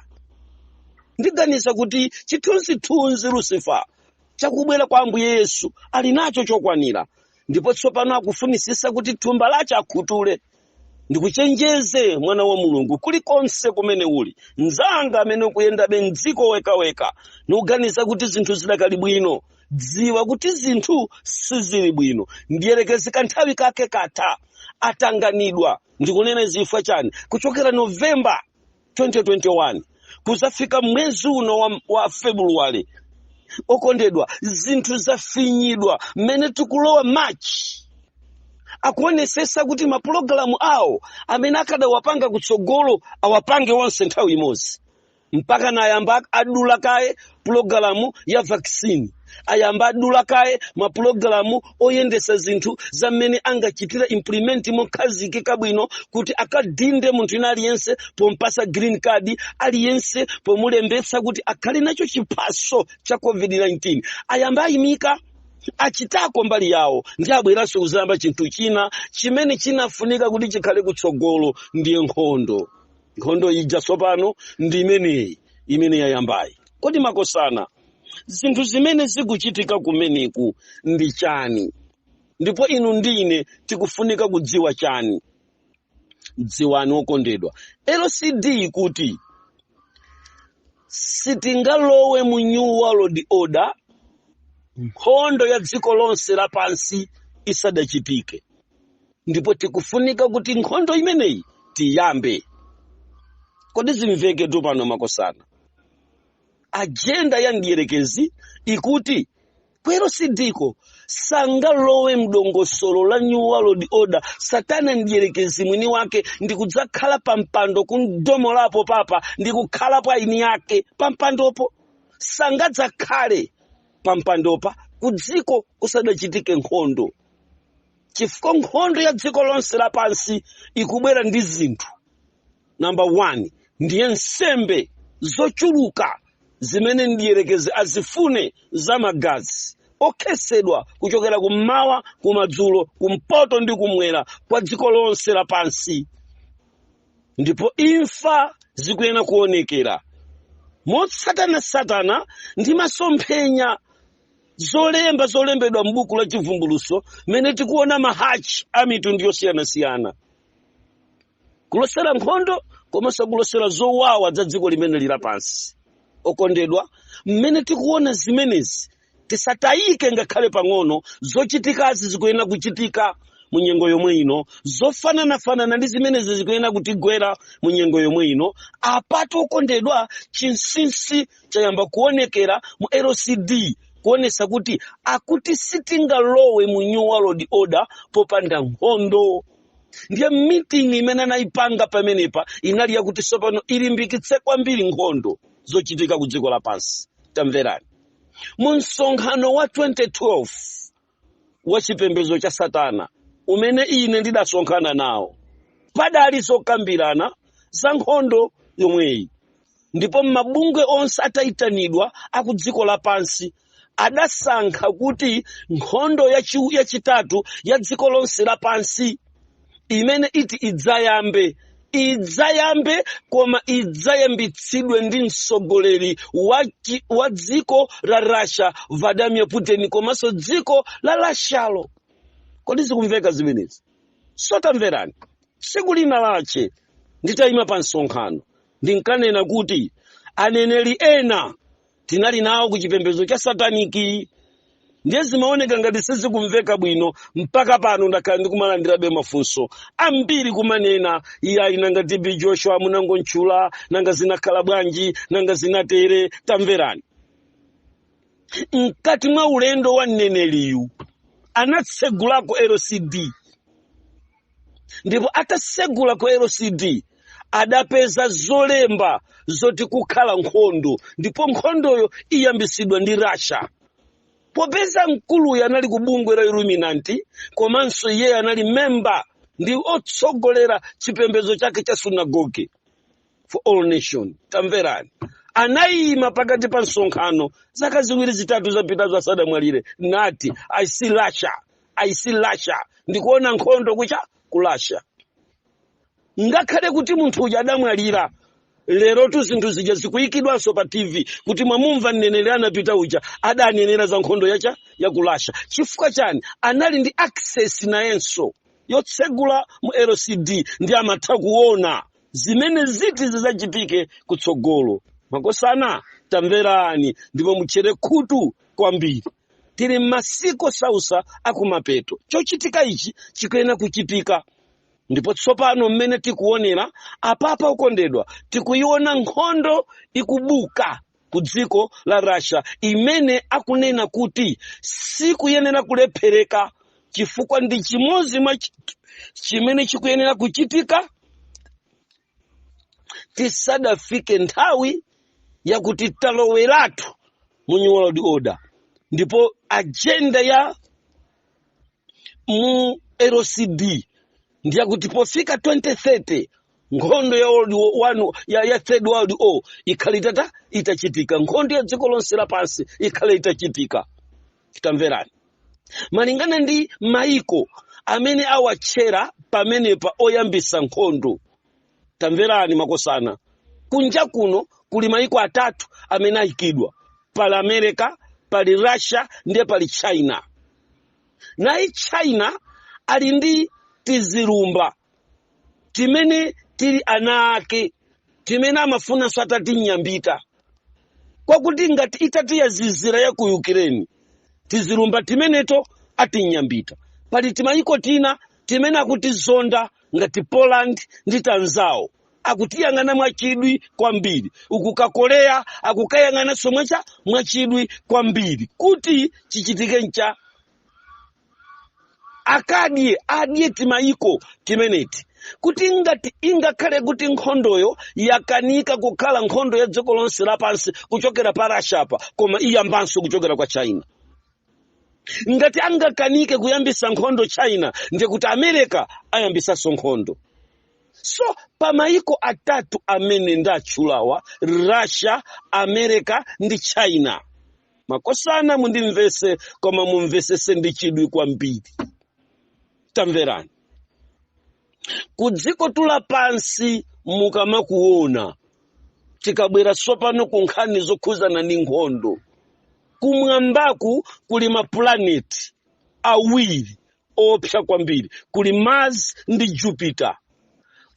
ndiganiza kuti chithunzithunzi lusifa chakubwera kwa ambuye yesu ali nacho chokwanira ndipo tsopano akufunisisa kuti thumba lache akhutule ndikuchenjeze mwana wa mulungu kulikonse kumene uli mnzanga amene ukuyendabe mdziko wekaweka ndikuganiza kuti zinthu zidakali bwino dziwa kuti zinthu sizili bwino mdierekezi kanthawi kake katha watanganidwa ndikunena zifukwa chani kuchokera novemba 2021 kuzafika mwezi uno wa february okondedwa zinthu zafinyidwa mmene tikulowa march akuonesesa kuti mapulogalamu awo amene akadawapanga kutsogolo awapange onse nthawi imodzi mpaka nayamba adula kaye pulogalamu ya vaccine ayamba adula kaye mapulogalamu oyendesa zinthu za mmene angachitira implement mokhazikika bwino kuti akadinde munthu ina aliyense pompasa green card aliyense pomulembetsa kuti akhale nacho chiphaso cha covid-19 ayamba ayimika achitako mbali yawo ndi abweranso kuzayamba chinthu china chimene chinafunika kuti chikhale kutsogolo ndiye nkhondo nkhondo ija tsopano ndi imeneyi imene yayambayi kodi makosana zinthu zimene zikuchitika kumeneku ndi chani ndipo inu ndi ine tikufunika kudziwa chani dziwani okondedwa LCD ikuti sitingalowe mu new world order nkhondo ya dziko lonse lapansi isadachitike ndipo tikufunika kuti nkhondo imeneyi tiyambe kodi zimveke tu pano makosana ajenda ya mdierekezi ikuti kwero sidiko sangalowe mdongosolo la new world order satana mdierekezi mwini wake ndi kudzakhala pa mpando kumuchotsapo papa ndi kukhalapo eni ake pa mpandopo sangadzakhale pa mpandopa ku dziko kusadachitike nkhondo chifukwa nkhondo ya dziko lonse lapansi ikubwera ndi zinthu namba 1 ndiye nsembe zochuluka zimene mdierekezi azifune za magazi okhetsedwa kuchokera kummawa kumadzulo kumpoto ndi kumwera kwa dziko lonse lapansi ndipo imfa zikuyenera kuonekera motsatanasatana ndi masomphenya zolemba zolembedwa m'buku la chivumbuluso mmene tikuona mahachi a mitundu yosiyanasiyana kulosera nkhondo komanso kulosera zowawa za dziko limene lili pansi okondedwa mmene tikuona zimenezi tisatayike ngakhale pang'ono zochitikazi zikuyenera kuchitika mu nyengo yomwe ino zofananafanana ndi zimenezi zikuyenera kutigwera mu nyengo yomwe ino apatu okondedwa chinsinsi chayamba kuonekera mu lcd kuonesa kuti akuti sitingalowe mu new world order popanda nkhondo ndiye meeting imene anayipanga pamenepa inali yakuti tsopano ilimbikitse kwambiri nkhondo zochitika ku dziko lapansi tamverani mu msonkhano wa 2012 wa chipembedzo cha satana umene ine ndidasonkhana nawo padali zokambirana za nkhondo yomweyi ndipo mabungwe onse atayitanidwa akudziko lapansi adasankha kuti nkhondo yachitatu ya dziko lonse lapansi imene iti idzayambe idzayambe koma idzayambitsidwe ndi mtsogoleri wa dziko la russia vladimir putin komanso dziko la russialo kodi zikumveka zimenezi sotamverani tsiku lina lache nditayima pa msonkhano ndinkanena kuti aneneri ena tinali nawo ku chipembedzo cha sataniki ndiye zimaoneka ngati sizikumveka bwino mpaka pano ndakhala ndikumalandirabe mafunso ambiri kumanena iyayi nanga tb joshua munangontchula nanga zinakhala bwanji nanga zinatere tamverani mkati mwa ulendo wa mneneriyu anatsegulako lcd ndipo atasegula ku lcd adapeza zolemba zoti kukhala nkhondo ndipo nkhondoyo iyambisidwa ndi russia popeza mkuluyo anali ku bungwe la illuminati komanso iyeyo anali memba ndi otsogolera chipembedzo chake cha sunagoge for all nation tamverani anayima pakati pa msonkhano zaka ziwiri zitatu zapitazo asadamwalire nati i see russia i see russia ndikuona nkhondo ku cha ku russia ngakhale kuti munthu uja adamwalira lerotu zinthu zija zikuyikidwanso pa tv kuti mwamumva mneneri anapita uja adanenera za nkhondo yacha ya ku russia chifukwa chiyani anali ndi access nayenso yotsegula mu lcd ndi amatha kuona zimene ziti zidzachitike kutsogolo makosana tamverani ndipo mutchere khutu kwambiri tili m'masiku osautsa akumapeto chochitika ichi chikuyenera kuchitika ndipo tsopano mmene tikuonera apapa okondedwa tikuiona nkhondo ikubuka ku dziko la russia imene akunena kuti sikuyenera kulephereka chifukwa ndi chimodzi mwa chi- chimene chikuyenera kuchitika tisadafike nthawi yakuti taloweratu mu new world order ndipo ajenda ya mu NWO ndiyakuti pofika 2030 nkhondo ya world war one ya, ya third world war ikhale itata itachitika nkhondo ya dziko lonse lapansi ikhale itachitika tamverani malingana ndi maiko amene awatchera pamenepa oyambisa nkhondo tamverani makosana kunja kuno kuli maiko atatu amene ayikidwa pali america pali russia ndiye pali china naye china ali ndi tizilumba timene tili ana ake timene amafunanso atatinyambita kwakuti ngati itati yazizira ya ku ukireni tizilumba timeneto atinyambita pali timayiko tina timene akutizonda ngati poland ndi tinzawo akutiyang'ana mwachidwi kwambiri uku ka korea akukayang'ananso mwecha mwachidwi kwambiri kuti chichitike ncha akadye adye timayiko timeneti kuti ngati ingakhale kuti nkhondoyo yakanika kukhala nkhondo ya dziko lonse lapansi kuchokera pa russia apa koma iyambanso kuchokera kwa china ngati angakanike kuyambisa nkhondo china ndiye kuti america ayambisanso nkhondo so pamayiko atatu amene ndatchulawa russia america ndi china makosana mundimvese koma mumvesese ndi chidwi kwambiri tamverani ku dziko tu la pansi mukamaliona tikabwera tsopano ku nkhani zokhuzana ndi nkhondo kumwambaku kuli mapulaneti awiri oopsa kwambiri kuli mars ndi jupiter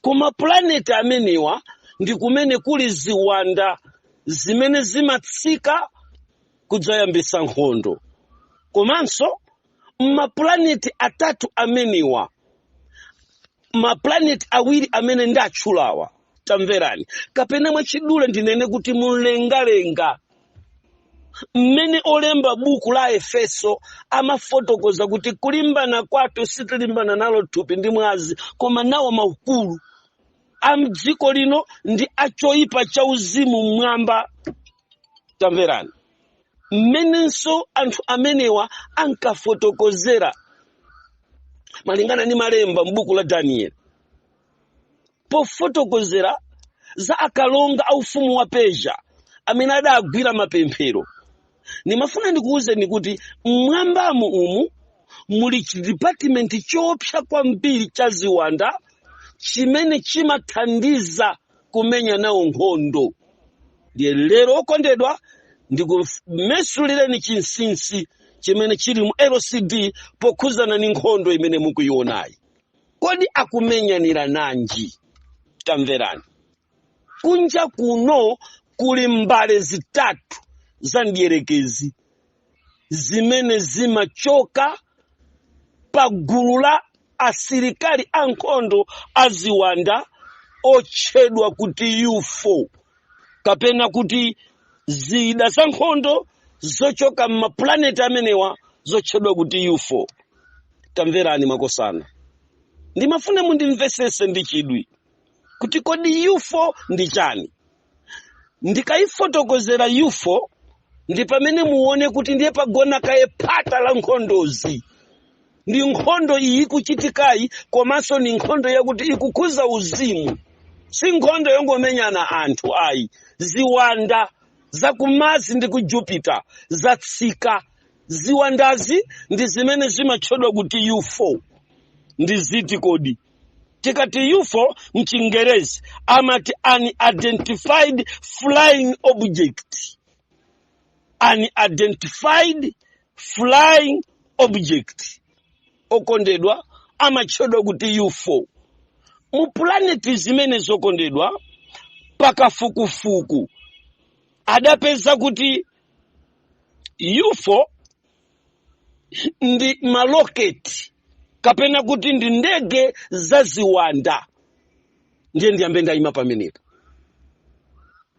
ku mapulaneti amenewa ndi kumene kuli ziwanda zimene zimatsika kudzayambitsa nkhondo komanso mapulaneti atatu amenewa mapulaneti awiri amene ndatchulawa tamverani kapena mwachidule ndinene kuti mumlengalenga mmene olemba buku la efeso amafotokoza kuti kulimbana kwathu sitilimbana nalo thupi ndi mwazi koma nawo maukulu a mdziko lino ndi a choyipa cha uzimu mmwamba tamverani mmenenso anthu amenewa ankafotokozera malingana ndi malemba m'buku la danieli pofotokozera za akalonga a ufumu wa persia amene adagwira mapemphero ndimafuna ndikuwuzeni kuti mmwambamu umu muli chidipatimenti choopsa kwambiri cha ziwanda chimene chimathandiza kumenya nawo nkhondo ndiye lero okondedwa ndikumesulireni chinsinsi chimene chili mu lcd pokhuzana ndi nkhondo imene mukuyiwonayi kodi akumenyanirana nji tamverani kunja kuno kuli mbale zitatu za mdierekezi zimene zimachoka pa gulu la asilikali ankhondo aziwanda otchedwa kuti ufo kapena kuti zida za nkhondo zochoka m'mapulaneti amenewa zotchedwa kuti ufo tamverani makosana ndimafuna mundimvesese ndi chidwi kuti kodi ufo ndi chani ndikayifotokozera ufo ndi pamene muone kuti ndiye pagona kaye phata la nkhondozi ndi nkhondo iyi ikuchitikayi komanso ni nkhondo yakuti ikukhuza uzimu si nkhondo yongomenyana anthu ayi ziwanda za ku mars ndi ku jupiter zatsika ziwandazi ndi zimene zimatchedwa kuti ufo ndi ziti kodi tikati ufo mchingerezi amati unidentified flying object unidentified flying object okondedwa amatchedwa kuti ufo mu pulaneti zimenezo okondedwa pakafukufuku adapeza kuti ufo ndi maloketi kapena kuti ndi ndege za ziwanda ndiye ndiyambe ndayima pamenepo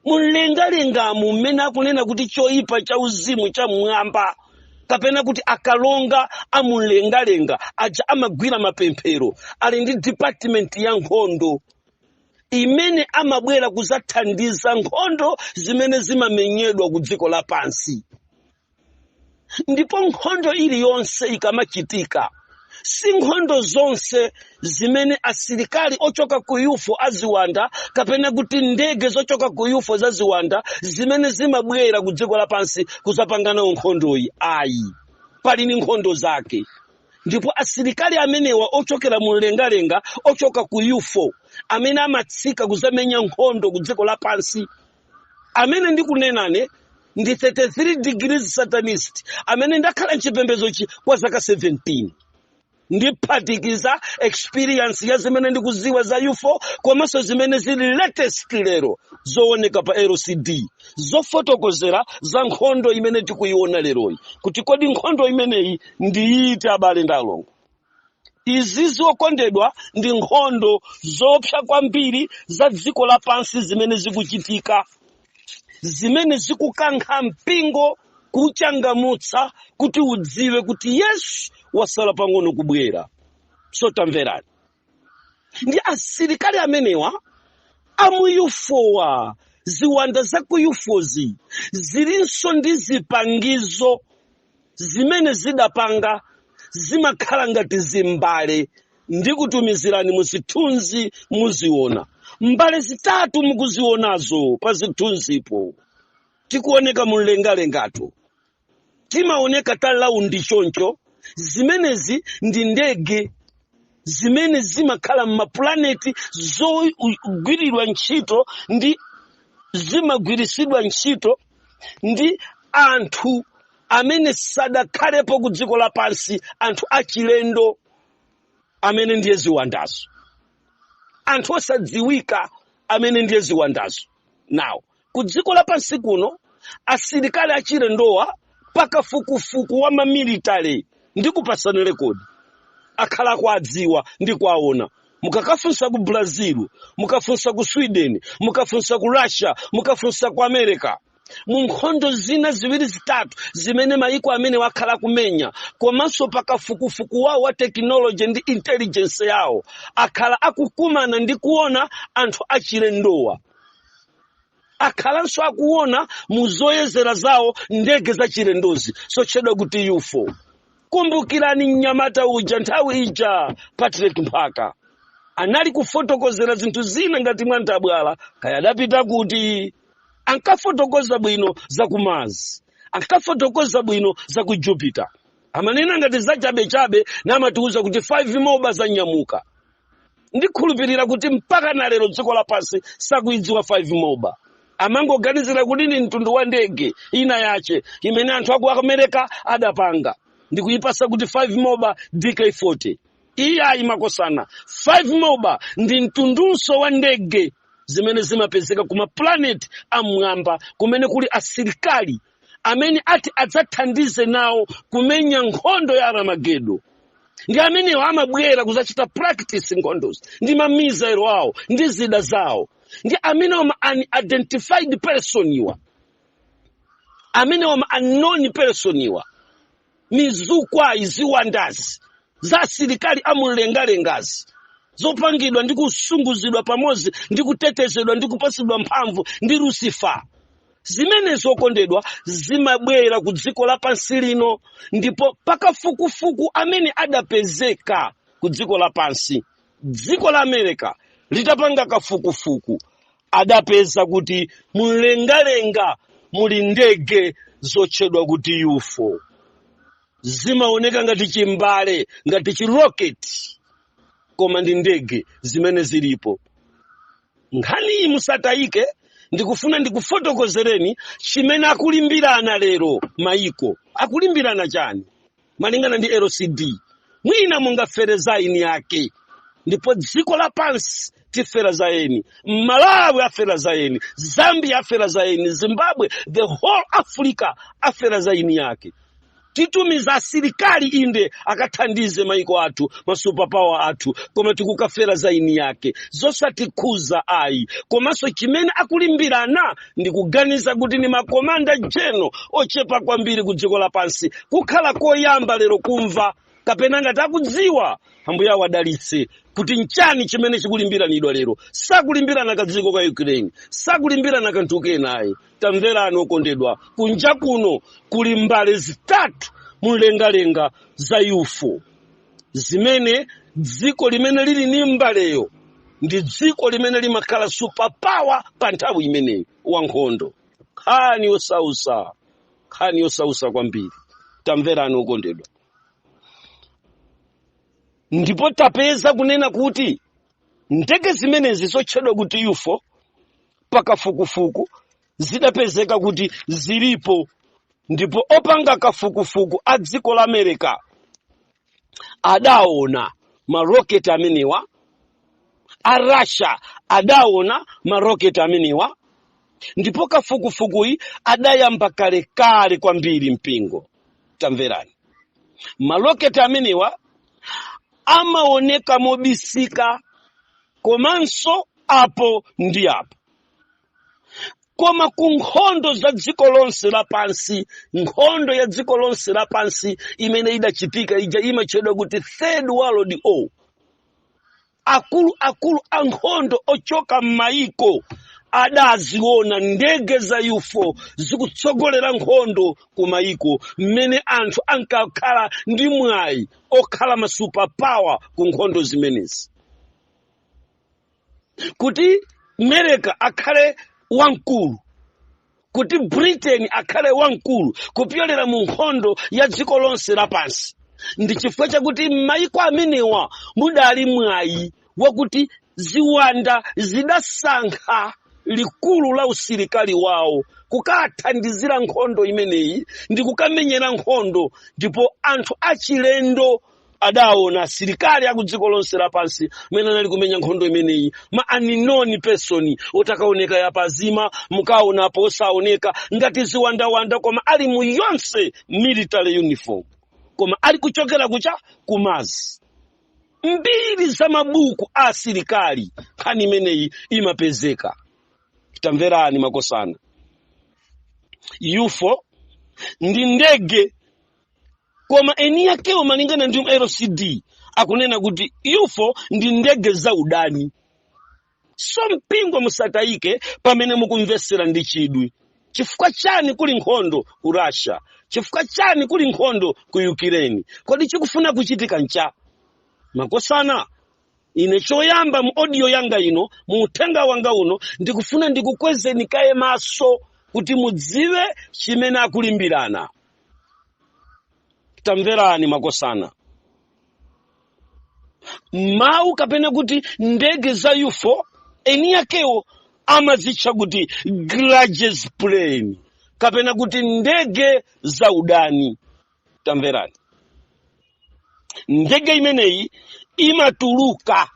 mumlengalengamu mmene akunena kuti choyipa cha uzimu cha mmwamba kapena kuti akalonga amumlengalenga aja amagwira mapemphero ali ndi department ya nkhondo imene amabwera kuzathandiza nkhondo zimene zimamenyedwa ku dziko lapansi ndipo nkhondo iliyonse ikamachitika si nkhondo zonse zimene asilikali ochoka ku ufo aziwanda kapena kuti ndege zochoka ku ufo za ziwanda zimene zimabwera ku dziko lapansi kuzapanga nawo nkhondoyi ayi pali ni nkhondo zake ndipo asilikali amenewa ochokera mu mlengalenga ochoka ku ufo amene amatsika kuzamenya nkhondo ku dziko lapansi amene ndikunenane ndi 33 degrees satanist amene ndakhala mchipembedzochi kwa zaka 17 ndiphatikiza experience ya zimene ndikuziwa za ufo komanso zimene zili latest lero zooneka pa lcd zofotokozera za nkhondo imene tikuyiona leroyi kuti kodi nkhondo imeneyi ndiyiti abale ndi alongo izizi okondedwa ndi nkhondo zoopsa kwambiri za dziko lapansi zimene zikuchitika zimene zikukankha mpingo kuchangamutsa kuti udziwe kuti yesu wasala pang'ono kubwera so tamverani ndi asilikali amenewa amuyufowa ziwanda za kuyufozi zilinso ndi zipangizo zimene zidapanga zimakhala ngati zimbale ndikutumizirani muzithunzi muziona mbale zitatu mukuzionazo pa zithunzipo tikuoneka mumlengalengato timaoneka talaundi choncho zimenezi ndi ndege zimene zimakhala m'mapulaneti zogwiridwa ntchito ndi zimagwiritsidwa ntchito ndi anthu amene sadakhalepo ku dziko lapansi anthu achilendo amene ndiye ziwandazo anthu osadziwika amene ndiye ziwandazo now ku dziko lapansi kuno asilikali achilendowa pakafukufuku wa mamilitary ndi kupasana rekodi akhala akuadziwa ndi kuaona mukakafunsa ku brazil mukafunsa ku sweden mukafunsa ku russia mukafunsa ku america mu nkhondo zina ziwiri zitatu zimene mayiko amenewa akhala akumenya komanso pakafukufuku wawo wa tekinoloji ndi intelligence yawo akhala akukumana ndi kuona anthu achilendowa akhalanso akuona mu zoyezera zawo ndege zachilendozi zotchedwa kuti ufo kumbukirani mnyamata uja nthawi ija patrick mphaka anali kufotokozera zinthu zina ngati mwantabwala kaya adapita kuti ankafotokoza bwino za ku mars ankafotokoza bwino za ku jupiter amanena ngati zachabechabe namatiuza kuti 5 moba zanyamuka ndikhulupirira kuti mpaka na lero dziko lapansi sakuidziwa 5 moba amangoganizira kuti ni mtundu wa ndege ina yache imene anthu aku america adapanga ndikuipasa kuti 5 moba dk40 iyayi makosana 5 moba ndi mtundunso wa ndege zimene zimapezeka ku maplaneti am'mwamba kumene kuli asilikali amene ati adzathandize nawo kumenya nkhondo ya Armageddon ndi amenewa amabwera kudzachita practice nkhondozi ndi mamizairo awo ndi zida zawo ndi amenewo ma unidentified person iwa amenewo ma unknown person iwa mizukwayi ziwandazi za asilikali amumlengalengazi zopangidwa ndi kusunguzidwa pamodzi ndi kutetezedwa ndi kupatsidwa mphamvu ndi lusifa zimene zokondedwa zimabwera ku dziko lapansi lino ndipo pakafukufuku amene adapezeka ku dziko lapansi dziko la america litapanga kafukufuku adapeza kuti mumlengalenga muli ndege zotchedwa kuti ufo zimaoneka ngati chimbale ngati chiroketi koma ndi ndege zimene zilipo nkhani iyi musatayike ndikufuna ndikufotokozereni chimene akulimbirana lero mayiko akulimbirana chani malingana ndi lcd mwina mungafere za eni yake ndipo dziko lapansi tifera za eni malawi afera za eni zambia afera za eni zimbabwe the whole africa afera za eni yake titumiza asilikali inde akathandize maiko athu masupapawa athu koma tikukafera za eni yake zosatikhuza ayi komanso chimene akulimbirana ndikuganiza kuti ni makomanda general ochepa kwambiri ku dziko lapansi kukhala koyamba lero kumva kapena ngati akudziwa ambuye awadalitse kuti nchani chimene chikulimbiranidwa lero sakulimbirana ka dziko ka ukraine sakulimbirana kanthu kenayi tamverani okondedwa kunja kuno kuli mbale zitatu mumlengalenga za ufo zimene dziko limene lili ni mbaleyo ndi dziko limene limakhala superpower pa nthawi imeneyi wa nkhondo nkhani yosausa nkhani yosausa kwambiri tamverani okondedwa ndipo tapeza kunena kuti ndege zimenezi zotchedwa kuti ufo pakafukufuku zidapezeka kuti zilipo ndipo opanga kafukufuku a dziko la america adaona maroketi amenewa a russia adaona maroketi amenewa ndipo kafukufukuyi adayamba kalekale kwambiri mpingo tamverani maroketi amenewa amaoneka mobisika komanso apo ndi apo koma ku nkhondo za dziko lonse lapansi nkhondo ya dziko lonse lapansi imene idachitika ija imatchedwa kuti third world war akuluakulu a nkhondo ochoka m'mayiko adaziona ndege za ufo zikutsogolera nkhondo ku mayiko mmene anthu ankakhala ndi mwayi okhala ma superpower ku nkhondo zimenezi kuti America akhale wamkulu kuti britain akhale wamkulu kupyolera mu nkhondo ya dziko lonse lapansi ndi chifukwa chakuti m'mayiko amenewa mudali mwayi wakuti ziwanda zidasankha likulu la usilikali wawo kukathandizira nkhondo imeneyi ndi kukamenyera nkhondo ndipo anthu achilendo adaona asilikali a ku dziko lonse lapansi mmene anali kumenya nkhondo imeneyi ma unknown person otakaoneka yapazima mukaonapo osaoneka ngati ziwandawanda koma ali mu yonse military uniform koma ali kuchokera kucha ku Mars mbiri za mabuku a asilikali nkhani imeneyi imapezeka tamverani makosana ufo ndi ndege koma eni yakewo malingana ndi mlcd akunena kuti ufo ndi ndege za udani so mpingo musatayike pamene mukumvetsera ndi chidwi chifukwa chani kuli nkhondo ku russia chifukwa chani kuli nkhondo ku ukraine kodi chikufuna kuchitika ncha makosana ine choyamba mu audio yanga ino mu uthenga wanga uno ndikufuna ndikukwezeni kaye maso kuti mudziwe chimene akulimbirana tamverani makosana mawu kapena kuti ndege za ufo eni yakewo amazitcha kuti grudges plane kapena kuti ndege za udani tamverani ndege imeneyi imatuluka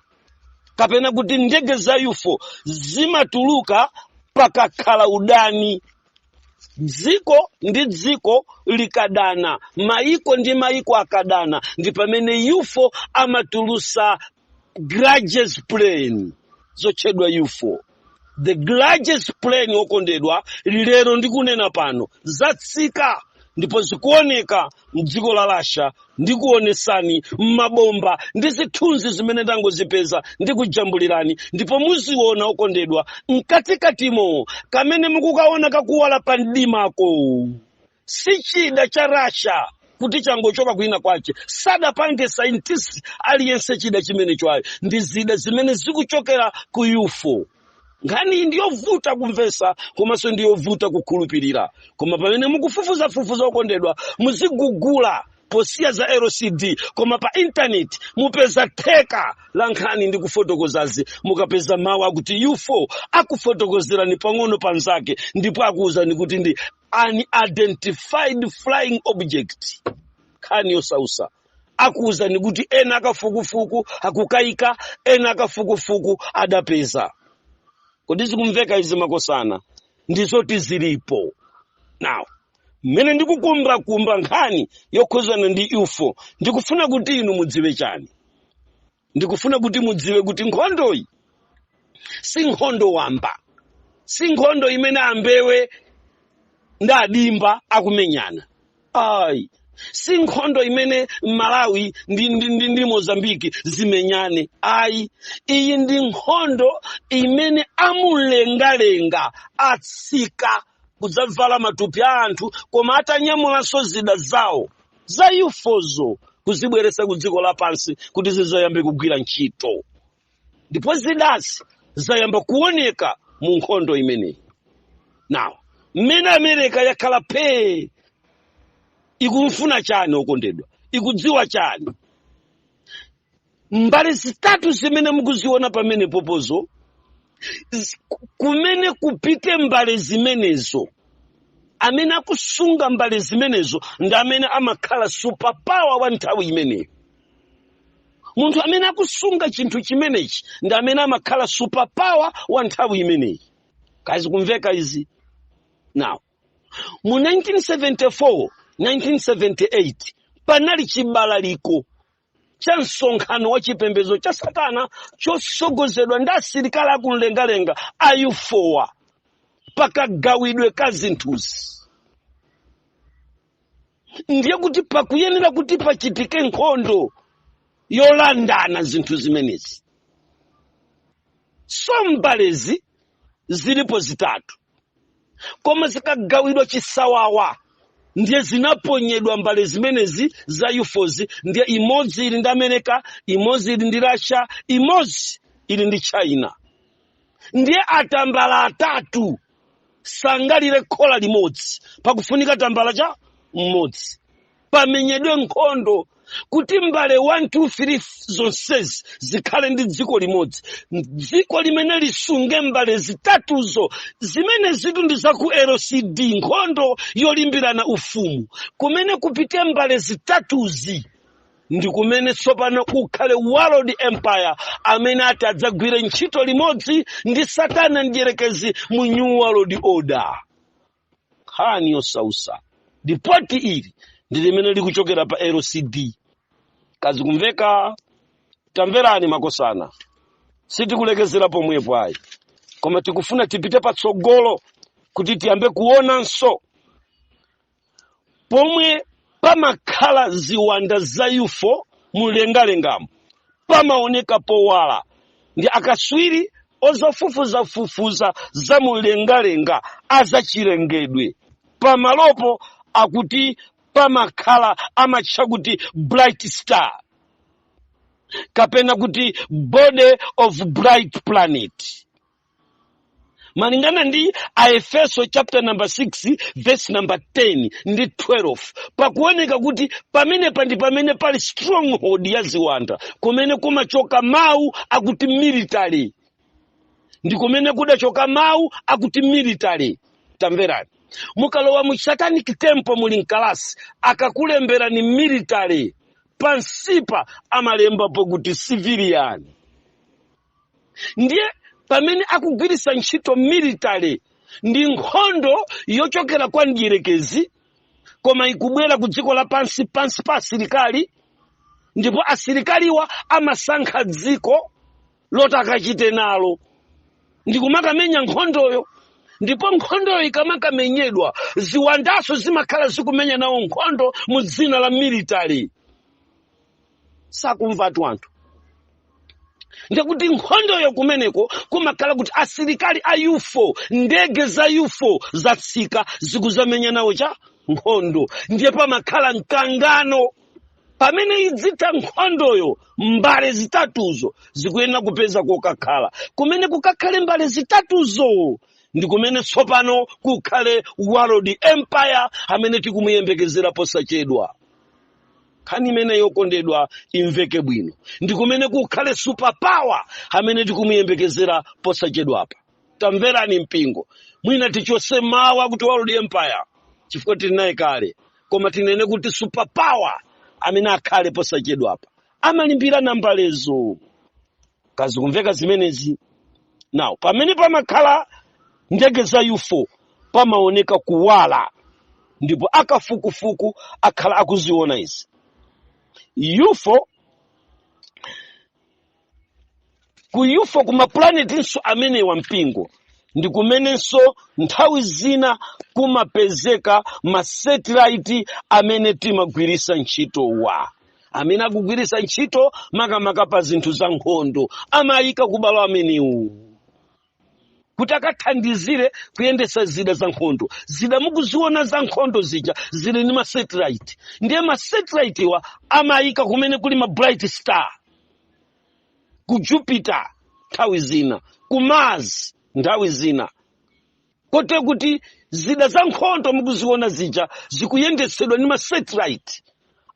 kapena kuti ndege za ufo zimatuluka pakakhala udani dziko ndi dziko likadana maiko ndi maiko akadana ndi pamene ufo amatulusa grudges plane zotchedwa ufo the grudges plane okondedwa lero ndikunena pano zatsika ndipo zikuoneka mdziko la Russia ndikuonesani mabomba ndi zithunzi zimene ndangozipeza ndikujambulirani ndipo muziona okondedwa mkatikatimo kamene mukukaona kakuwala pa mdimako si chida cha Russia kuti changochoka kwina kwache sadapange scientist aliyense chida chimenecho ayi ndi zida zimene zikuchokera ku UFO nkhaniyi ndiyovuta kumvesa komanso ndiyovuta kukhulupirira koma pamene mukufufuzafufuza okondedwa muzigugula posiya za lcd koma pa intaneti mupeza theka la nkhani ndi kufotokozazi mukapeza mawu akuti ufo akufotokozerani pang'ono panzake ndipo akuwuzani kuti ndi unidentified flying object nkhani yosautsa akuwuzani kuti ena akafukufuku akukayika ena akafukufuku adapeza kodi zikumveka izi makosana ndizoti zilipo now mmene ndikukumbakumba nkhani yokhudzana ndi ufo ndikufuna kuti inu mudziwe chani ndikufuna kuti mudziwe kuti nkhondoyi si nkhondo wamba si nkhondo imene ambewe ndi a dzimba akumenyana ayi si nkhondo imene malawi ndi, ndi, ndi, ndi mozambiki zimenyane ayi iyi ndi nkhondo imene amulengalenga atsika kudzavala matupi a anthu koma atanyamulanso zida zawo za ufozo kuzibweretsa ku dziko lapansi kuti zidzayambe kugwira ntchito ndipo zidazi zayamba kuoneka mu nkhondo imeneyi now mmene amerika yakhala phee ikufuna chani okondedwa ikudziwa chani mbale zitatu zimene mukuziona pamenepozo z- kumene kupite mbale zimenezo amene akusunga mbale zimenezo ndi amene amakhala superpower wa nthawi imeneyo munthu amene akusunga chinthu chimenechi ndi amene amakhala superpower wa nthawi imeneyi kaya zikumveka izi now mu 1974 1978 panali chibalaliko cha msonkhano wa chipembedzo cha satana chotsogozedwa ndi asilikali akumlengalenga a ufowa pakagawidwe ka zinthuzi ndiye kuti pakuyenera kuti pachitike nkhondo yolandana zinthu zimenezi so mbalezi zilipo zitatu koma zinagawidwa chisawawa ndiye zinaponyedwa mbale zimenezi za ufozi ndiye imodzi ili ndi america imodzi ili ndi russia imodzi ili ndi china ndiye atambala atatu sangalire khola limodzi pakufunika tambala cha mmodzi pamenyedwe nkhondo kuti mbale 1 2 3 zonsezi zikhale ndi dziko limodzi dziko limene lisunge mbale zitatuzo zimene zitu ndi za ku lcd nkhondo yolimbirana ufumu kumene kupite mbale zitatuzi ndi kumene tsopano kukhale world empire amene ati adzagwire ntchito limodzi ndi satana mdyerekezi mu new world order nkhani yosausa lipoti ili ndi limene likuchokera pa lcd kazikumveka tamverani makosana sitikulekezera pomwepo ayi koma tikufuna tipite patsogolo kuti tiyambe kuonanso pomwe pamakhala ziwanda za ufo mumlengalengamo pamaoneka powala ndi akaswiri ozafufuzafufuza za mumlengalenga azachilengedwe pamalopo akuti pamakhala amatcha kuti bright star kapena kuti body of bright planet malingana ndi aefeso chapter number 6 verse number 10 ndi 12 pakuoneka kuti pamenepa ndi pamene pali stronghold ya ziwanda kumene kumachoka mawu akuti military ndi kumene kudachoka mawu akuti military tamverani mukalowa mu satanic temple muli mkalasi akakulemberani military pansipa amalemba pokuti civilian ndiye pamene akugwiritsa ntchito military ndi nkhondo yochokera kwa mdierekezi koma ikubwera ku dziko lapansi pansi pa asilikali ndipo asilikaliwa amasankha dziko loti akachite nalo ndikumakamenya nkhondoyo ndipo nkhondoyo ikamakamenyedwa ziwandanso zimakhala zikumenya nawo nkhondo mu dzina la military sakumvatu anthu ndiye kuti nkhondoyo kumeneko kumakhala kuti asilikali a ufo ndege za ufo zatsika zikudzamenya nawo cha nkhondo ndiye pamakhala mkangano pamene idzitha nkhondoyo mbale zitatuzo zikuyenera kupeza kokakhala kumene kukakhale mbale zitatuzo ndi kumene tsopano kukhale world empire amene tikumuyembekezera posachedwa nkhani imene yokondedwa imveke bwino ndi kumene kukhale superpower amene tikumuyembekezera posachedwapa tamverani mpingo mwina tichose mawu akuti world empire chifukwa tili naye kale koma tinene kuti superpower amene akhale posachedwapa amalimbirana mbalezo kaya zikumveka zimenezi now pamene pamakhala ndege za ufo pamaoneka kuwala ndipo akafukufuku akhala akuziona izi ufo ku ufo ku mapulanetinso amenewa mpingo ndi kumenenso nthawi zina kumapezeka masetilaiti amene timagwiritsa ntchitowa amene akugwiritsa ntchito makamaka pa zinthu za nkhondo amayika ku malo amenewo kuti akathandizire kuyendetsa zida za nkhondo zida mukuziona za nkhondo zija zili ndi masatellite ndiye masatellitewa amayika kumene kuli ma bright star ku jupiter nthawi zina ku mars nthawi zina kotero kuti zida za nkhondo mukuziona zija zikuyendetsedwa ndi masatellite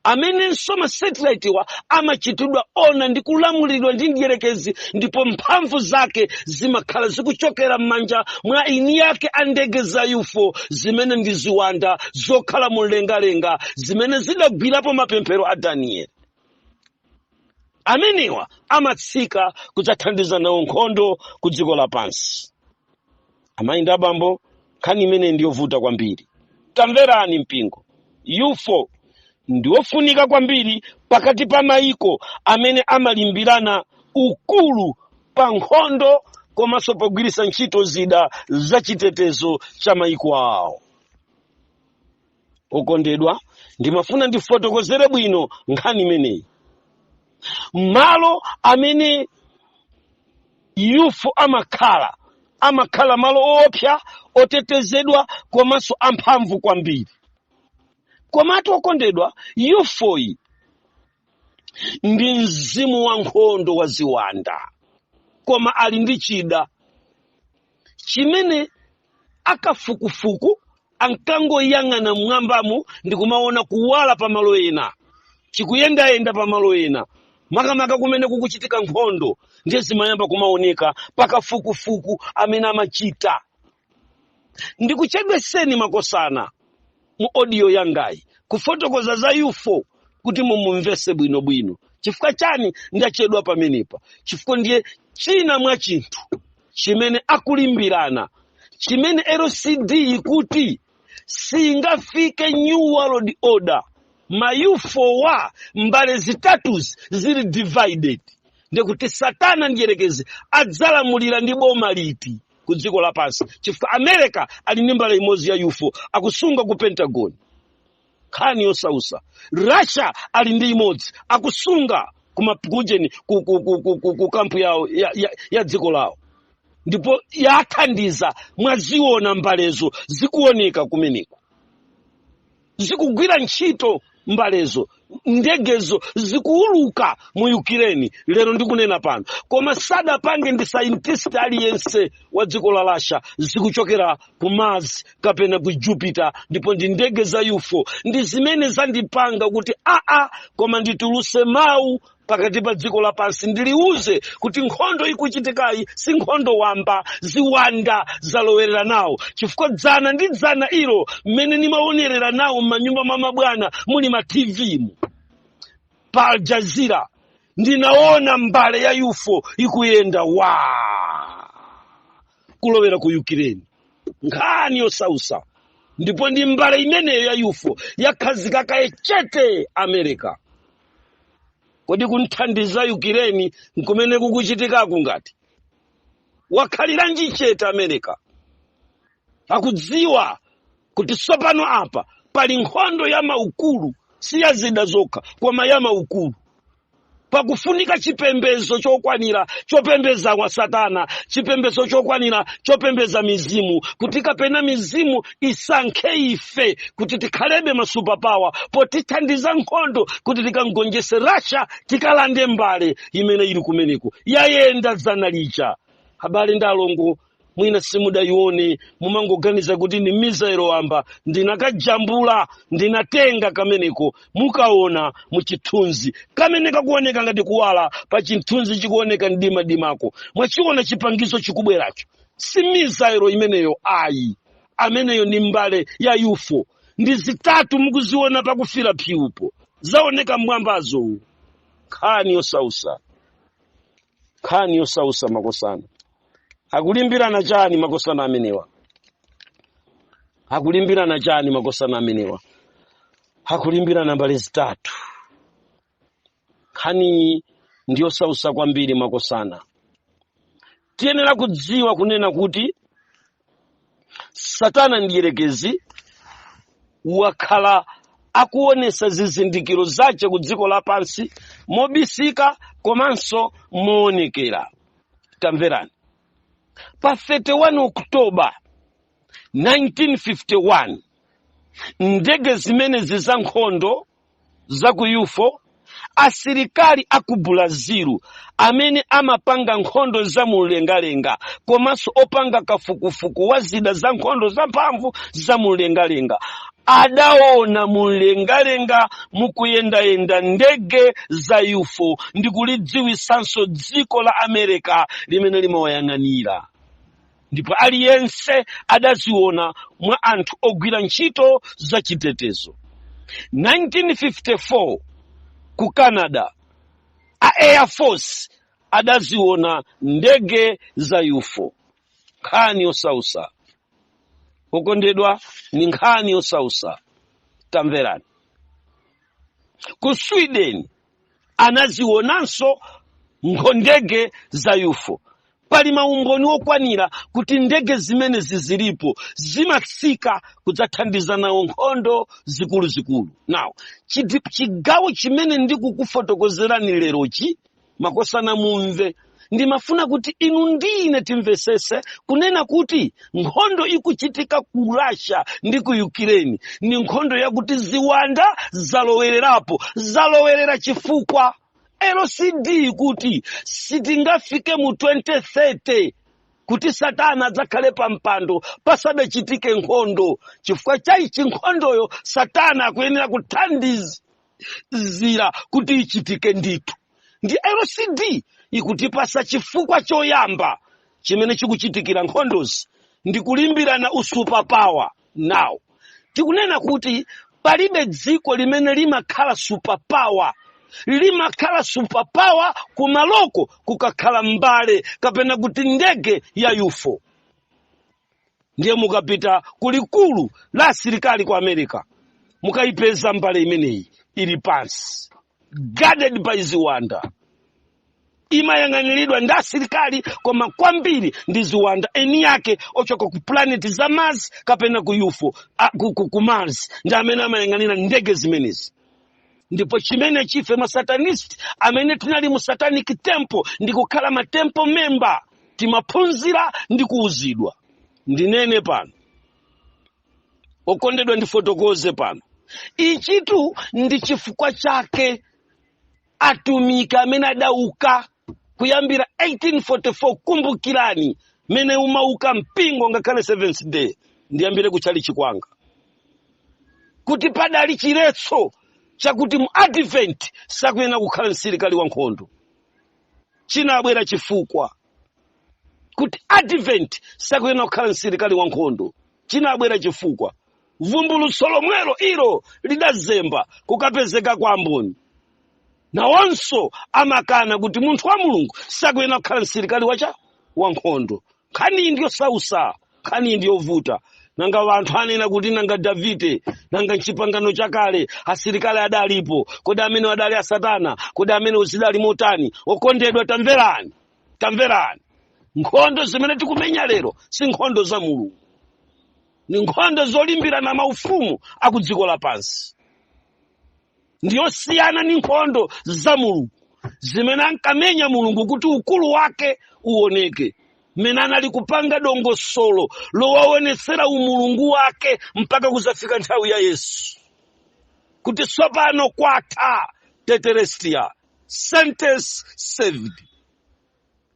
amenenso masatellite wa amachitidwa ona ndi kulamulidwa ndi mdyerekezi ndipo mphamvu zake zimakhala zikuchokera m'manja mwa eni ake a ndege za ufo zimene ndi ziwanda zokhala mu mlengalenga zimene zidagwirapo mapemphero a danieli amenewa amatsika kudzathandiza nawo nkhondo ku dziko lapansi amayi ndi abambo nkhani imeneyi ndiyovuta kwambiri tamverani mpingo ufo ndiwofunika kwambiri pakati pa mayiko amene amalimbirana ukulu pa nkhondo komanso pogwiritsa ntchito zida za chitetezo cha mayiko awo okondedwa ndimafuna ndifotokozere bwino nkhani imeneyi malo amene ufo amakhala amakhala malo oopsa otetezedwa komanso amphamvu kwambiri komatu okondedwa ufoyi ndi mzimu wa nkhondo wa ziwanda koma ali ndi chida chimene akafukufuku ankangoyang'ana mmwambamo ndi kumaona kuwala pa malo ena chikuyendayenda pa malo ena makamaka kumene kukuchitika nkhondo ndiye zimayamba kumaoneka pakafukufuku amene amachita ndakuchedwetsani makosana mu audio yangayi kufotokoza za UFO kuti mumumvese bwinobwino chifukwa chani ndachedwa pamenepa chifukwa ndiye china mwa chinthu chimene akulimbirana chimene LCD ikuti singafike new world order ma UFO wa mbale zitatuzi zili divided ndikuti satana mdyerekezi adzalamulira ndi boma liti ku dziko lapansi chifukwa america ali ndi mbale imodzi ya ufo akusunga ku pentagon nkhani yosausa russia ali ndi imodzi akusunga kumapukujeni ku, ku, ku, ku, ku, ku kampu yawo ya, ya, ya dziko lawo ndipo yathandiza mwaziona mbalezo zikuoneka kumeneko zikugwira ntchito mbalezo ndegezo zikuuluka mu Ukraine lero ndikunena pano koma sadapange ndi scientist aliyense wa dziko la Russia zikuchokera ku mars kapena ku jupiter ndipo ndi ndege za ufo ndi zimene zandipanga kuti aa koma ndituluse mawu pakati pa dziko lapansi ndiliuze kuti nkhondo ikuchitikayi si nkhondo wamba ziwanda zalowerera nawo chifukwa dzana ndi dzana ilo mmene nimaonerera nawo m'manyumba mwa mabwana muli ma tv mu pa Al Jazeera ndinaona mbale ya UFO ikuyenda waa kulowera ku Ukraine nkhani yosausa ndipo ndi mbale imeneyo ya UFO yakhazika kaye chete America kodi kumthandiza Ukraine n'kumene kukuchitikaku ngati wakhaliranji chete america akudziwa kuti tsopano apa pali nkhondo ya maukulu si ya zida zokha koma ya maukulu pakufunika chipembedzo chokwanira chopembedza kwa satana chipembedzo chokwanira chopembedza mizimu kuti kapena mizimu isankhe ife kuti tikhalebe ma superpower potithandiza nkhondo kuti tikamgonjese Russia tikalande mbale imene ili kumeneko yayenda dzana lija abale ndi alongo mwina simudayione mumangoganiza kuti ni missile wamba ndinakajambula ndinatenga kameneko mukaona muchithunzi kamene kakuoneka ngati kuwala pa chithunzi chikuoneka mdimadimako mwachiona chipangizo chikubweracho si missile imeneyo ayi ameneyo ni mbale ya UFO ndi zitatu mukuziona pakufira phiupo zaoneka mwambazo uwu nkhani yosausa nkhani yosausa makosana akulimbirana chani makosana amenewa akulimbirana chani makosana amenewa akulimbirana mbale zitatu nkhaniyi ndi yosausa kwambiri makosana tiyenera kudziwa kunena kuti satana mdyerekezi wakhala akuonesa zizindikiro zache ku dziko lapansi mobisika komanso moonekera tamverani pa 31 oktoba 1951 ndege zimenezi za nkhondo za ku UFO, asilikali a ku Brazil amene amapanga nkhondo za mumlengalenga komanso opanga kafukufuku wa zida za nkhondo zamphamvu za mumlengalenga adaona mumlengalenga mukuyendayenda ndege za UFO ndi kulidziwitsanso dziko la America limene limawayang'anira. ndipo aliyense adaziona mwa anthu ogwira ntchito za chitetezo 1954 ku canada a air force adaziona ndege za ufo nkhani yosausa okondedwa ni nkhani yosausa tamverani ku sweden anazionanso nkho ndege za ufo pali maumboni okwanira kuti ndege zimenezi zilipo zimatsika kudzathandiza nawo nkhondo zikuluzikulu now chidi- chigawo chimene ndikukufotokozerani lerochi makosana mumve ndimafuna kuti inu ndine timvesese kunena kuti nkhondo ikuchitika ku russia ndi ku ukraine ni nkhondo yakuti ziwanda zalowererapo zalowerera chifukwa lcd kuti sitingafike mu 2030 kuti satana adzakhale pa mpando pasadachitike nkhondo chifukwa chaichi nkhondoyo satana akuyenera kuthandizira kuti ichitike ndithu ndi lcd ikutipasa chifukwa choyamba chimene chikuchitikira nkhondozi ndi kulimbirana usuperpower now tikunena kuti palibe dziko limene limakhala superpower limakhala superpower kumaloko kukakhala mbale kapena kuti ndege ya ufo ndiye mukapita ku likulu la asilikali ku america mukayipeza mbale imeneyi ili pansi guarded by ziwanda imayang'aniridwa ndi asilikali koma kwambiri ndi ziwanda eni yake ochoka ku planeti za mars kapena ku ufo a, ku, ku, ku mars ndi amene amayang'anira ndege zimenezi ndipo chimene chife masatanist amene tinali mu satanic temple ndi kukhala ma temple member timaphunzira ndi kuuzidwa ndinene pano okondedwa ndifotokoze pano ichitu ndi chifukwa chake atumiki amene adauka kuyambira 1844 kumbukirani mene umauka mpingo ngakhale seventh day ndiyambire kutchalichi kwanga kuti padali chiletso chakuti mu advent sakuyenera kukhala msilikali wa nkhondo chinabwera chifukwa kuti advent sakuyenera kukhala msilikali wa nkhondo chinabwera chifukwa vumbulutso lomwelo ilo lidazemba kukapezeka kwa amboni nawonso amakana kuti munthu wa mulungu sakuyenera kukhala msilikali wacha wankhondo nkhaniyi ndi yosausa nkhaniyi ndi yovuta nanga wanthu anena kuti nanga davide nanga mchipangano chakale asilikali adalipo kodi amene adali a satana kodi amene zidali motani okondedwa tamverani tamverani nkhondo zimene tikumenya lero si nkhondo za mulungu ni nkhondo zolimbirana maufumu aku dziko lapansi ndi yosiyana ndi nkhondo za mulungu zimene ankamenya mulungu kuti ukulu wake uoneke mmene anali kupanga dongosolo lowaonetsera umulungu wake mpaka kuzafika nthawi ya yesu kuti tsopano kwatha tetelestai sentence served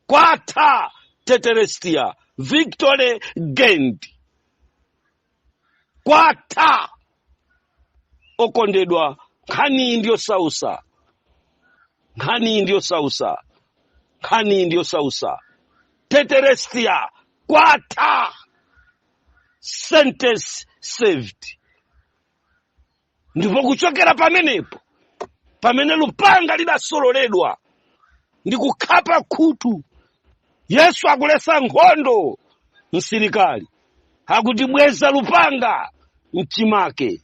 kwatha tetelestai victory gained kwatha okondedwa nkhaniyi ndi yosausa nkhaniyi ndi yosausa nkhaniyi ndi yosausa tetelestai kwatha sentence served ndipo kuchokera pamenepo pamene lupanga lidasololedwa ndi kukhapa khutu yesu akuletsa nkhondo msilikali akuti bweza lupanga mchimake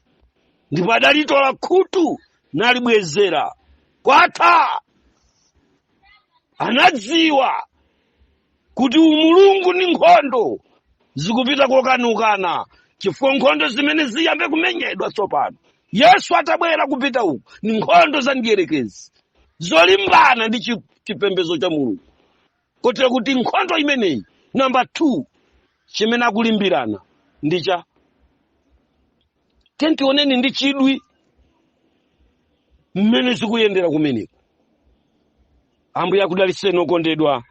ndipo adalitola khutu nalibwezera kwatha anadziwa kuti umulungu ndi nkhondo zikupita kokanukana chifukwa nkhondo zimene ziyambe kumenyedwa tsopano yesu atabwera kupita uku ni nkhondo za mdierekezi zolimbana ndi chipembedzo cha mulungu kotero kuti nkhondo imeneyi namba 2 chimene akulimbirana ndi cha tiyeni tione ndi chidwi mmene zikuyendera kumeneko ambuye akudalitseni okondedwa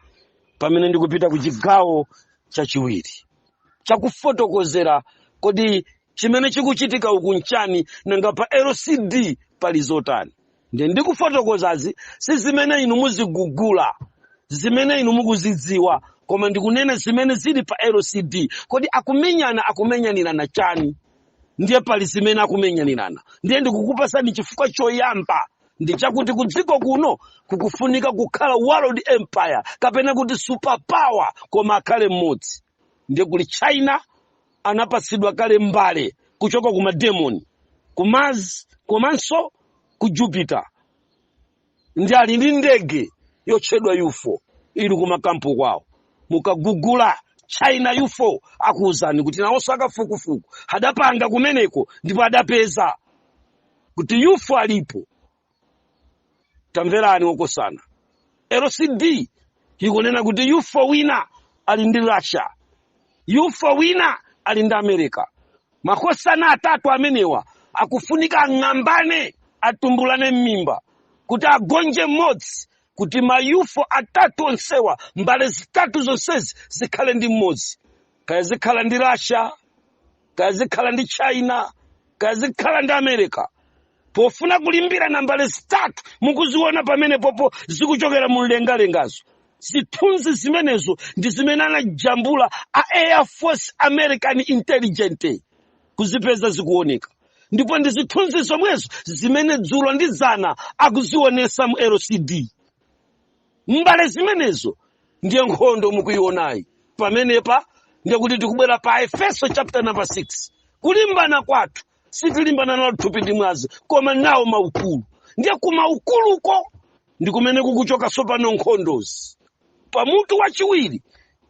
pamene ndikupita ku chigawo chachiwiri chakufotokozera kodi chimene chikuchitika uku nchani nanga pa lcd pali zotani ndiye ndikufotokozazi si zimene inu muzigugula zimene inu mukuzidziwa koma ndikunena zimene zili pa lcd kodi akumenyana akumenyanirana chani ndiye pali zimene akumenyanirana ndiye ndikukupasani chifukwa choyamba ndi chakuti ku dziko kuno kukufunika kukhala world empire kapena kuti superpower koma akhale mmodzi ndiye kuli china anapatsidwa kale mbale kuchoka ku mademoni ku mars komanso ku jupiter ndiye ali ndi ndege yotchedwa ufo ili kumakampu kwawo mukagugula china ufo akuwuzani kuti nawonso akafukufuku adapanga kumeneko ndipo adapeza kuti ufo alipo tamverani okosana lcd ikunena kuti yufo wina ali ndi russia yufo wina ali ndi america makosana atatu amenewa akufunika ang'ambane atumbulane m'mimba kuti agonje mmodzi kuti mayufo atatu onsewa mbale zitatu zonsezi zikhale ndi mmodzi kaya zikhala ndi russia kaya zikhala ndi china kaya zikhala ndi america pofuna kulimbirana mbale zitatu mukuziona pamenepopo zikuchokera mu mlengalengazo zithunzi zimenezo ndi zimene anajambula a air force american intelligence kuzipeza zikuoneka ndipo ndi zithunzi zomwezo zimene dzulo ndi zana akuzionesa mu lcd mbale zimenezo ndiye nkhondo mukuionayi pamenepa ndiye kuti tikubwera pa efeso chapter number 6 kulimbana kwathu sitilimbana nawo thupi ndi mwazi koma nawo maukulu ndiye kumaukuluko ndi kumene kukuchoka tsopano nkhondozi pa mutu wachiwiri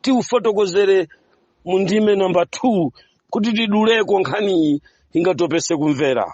tiufotokozere mu ndime namba 2 kuti tiduleko nkhaniyi ingatopese kumvera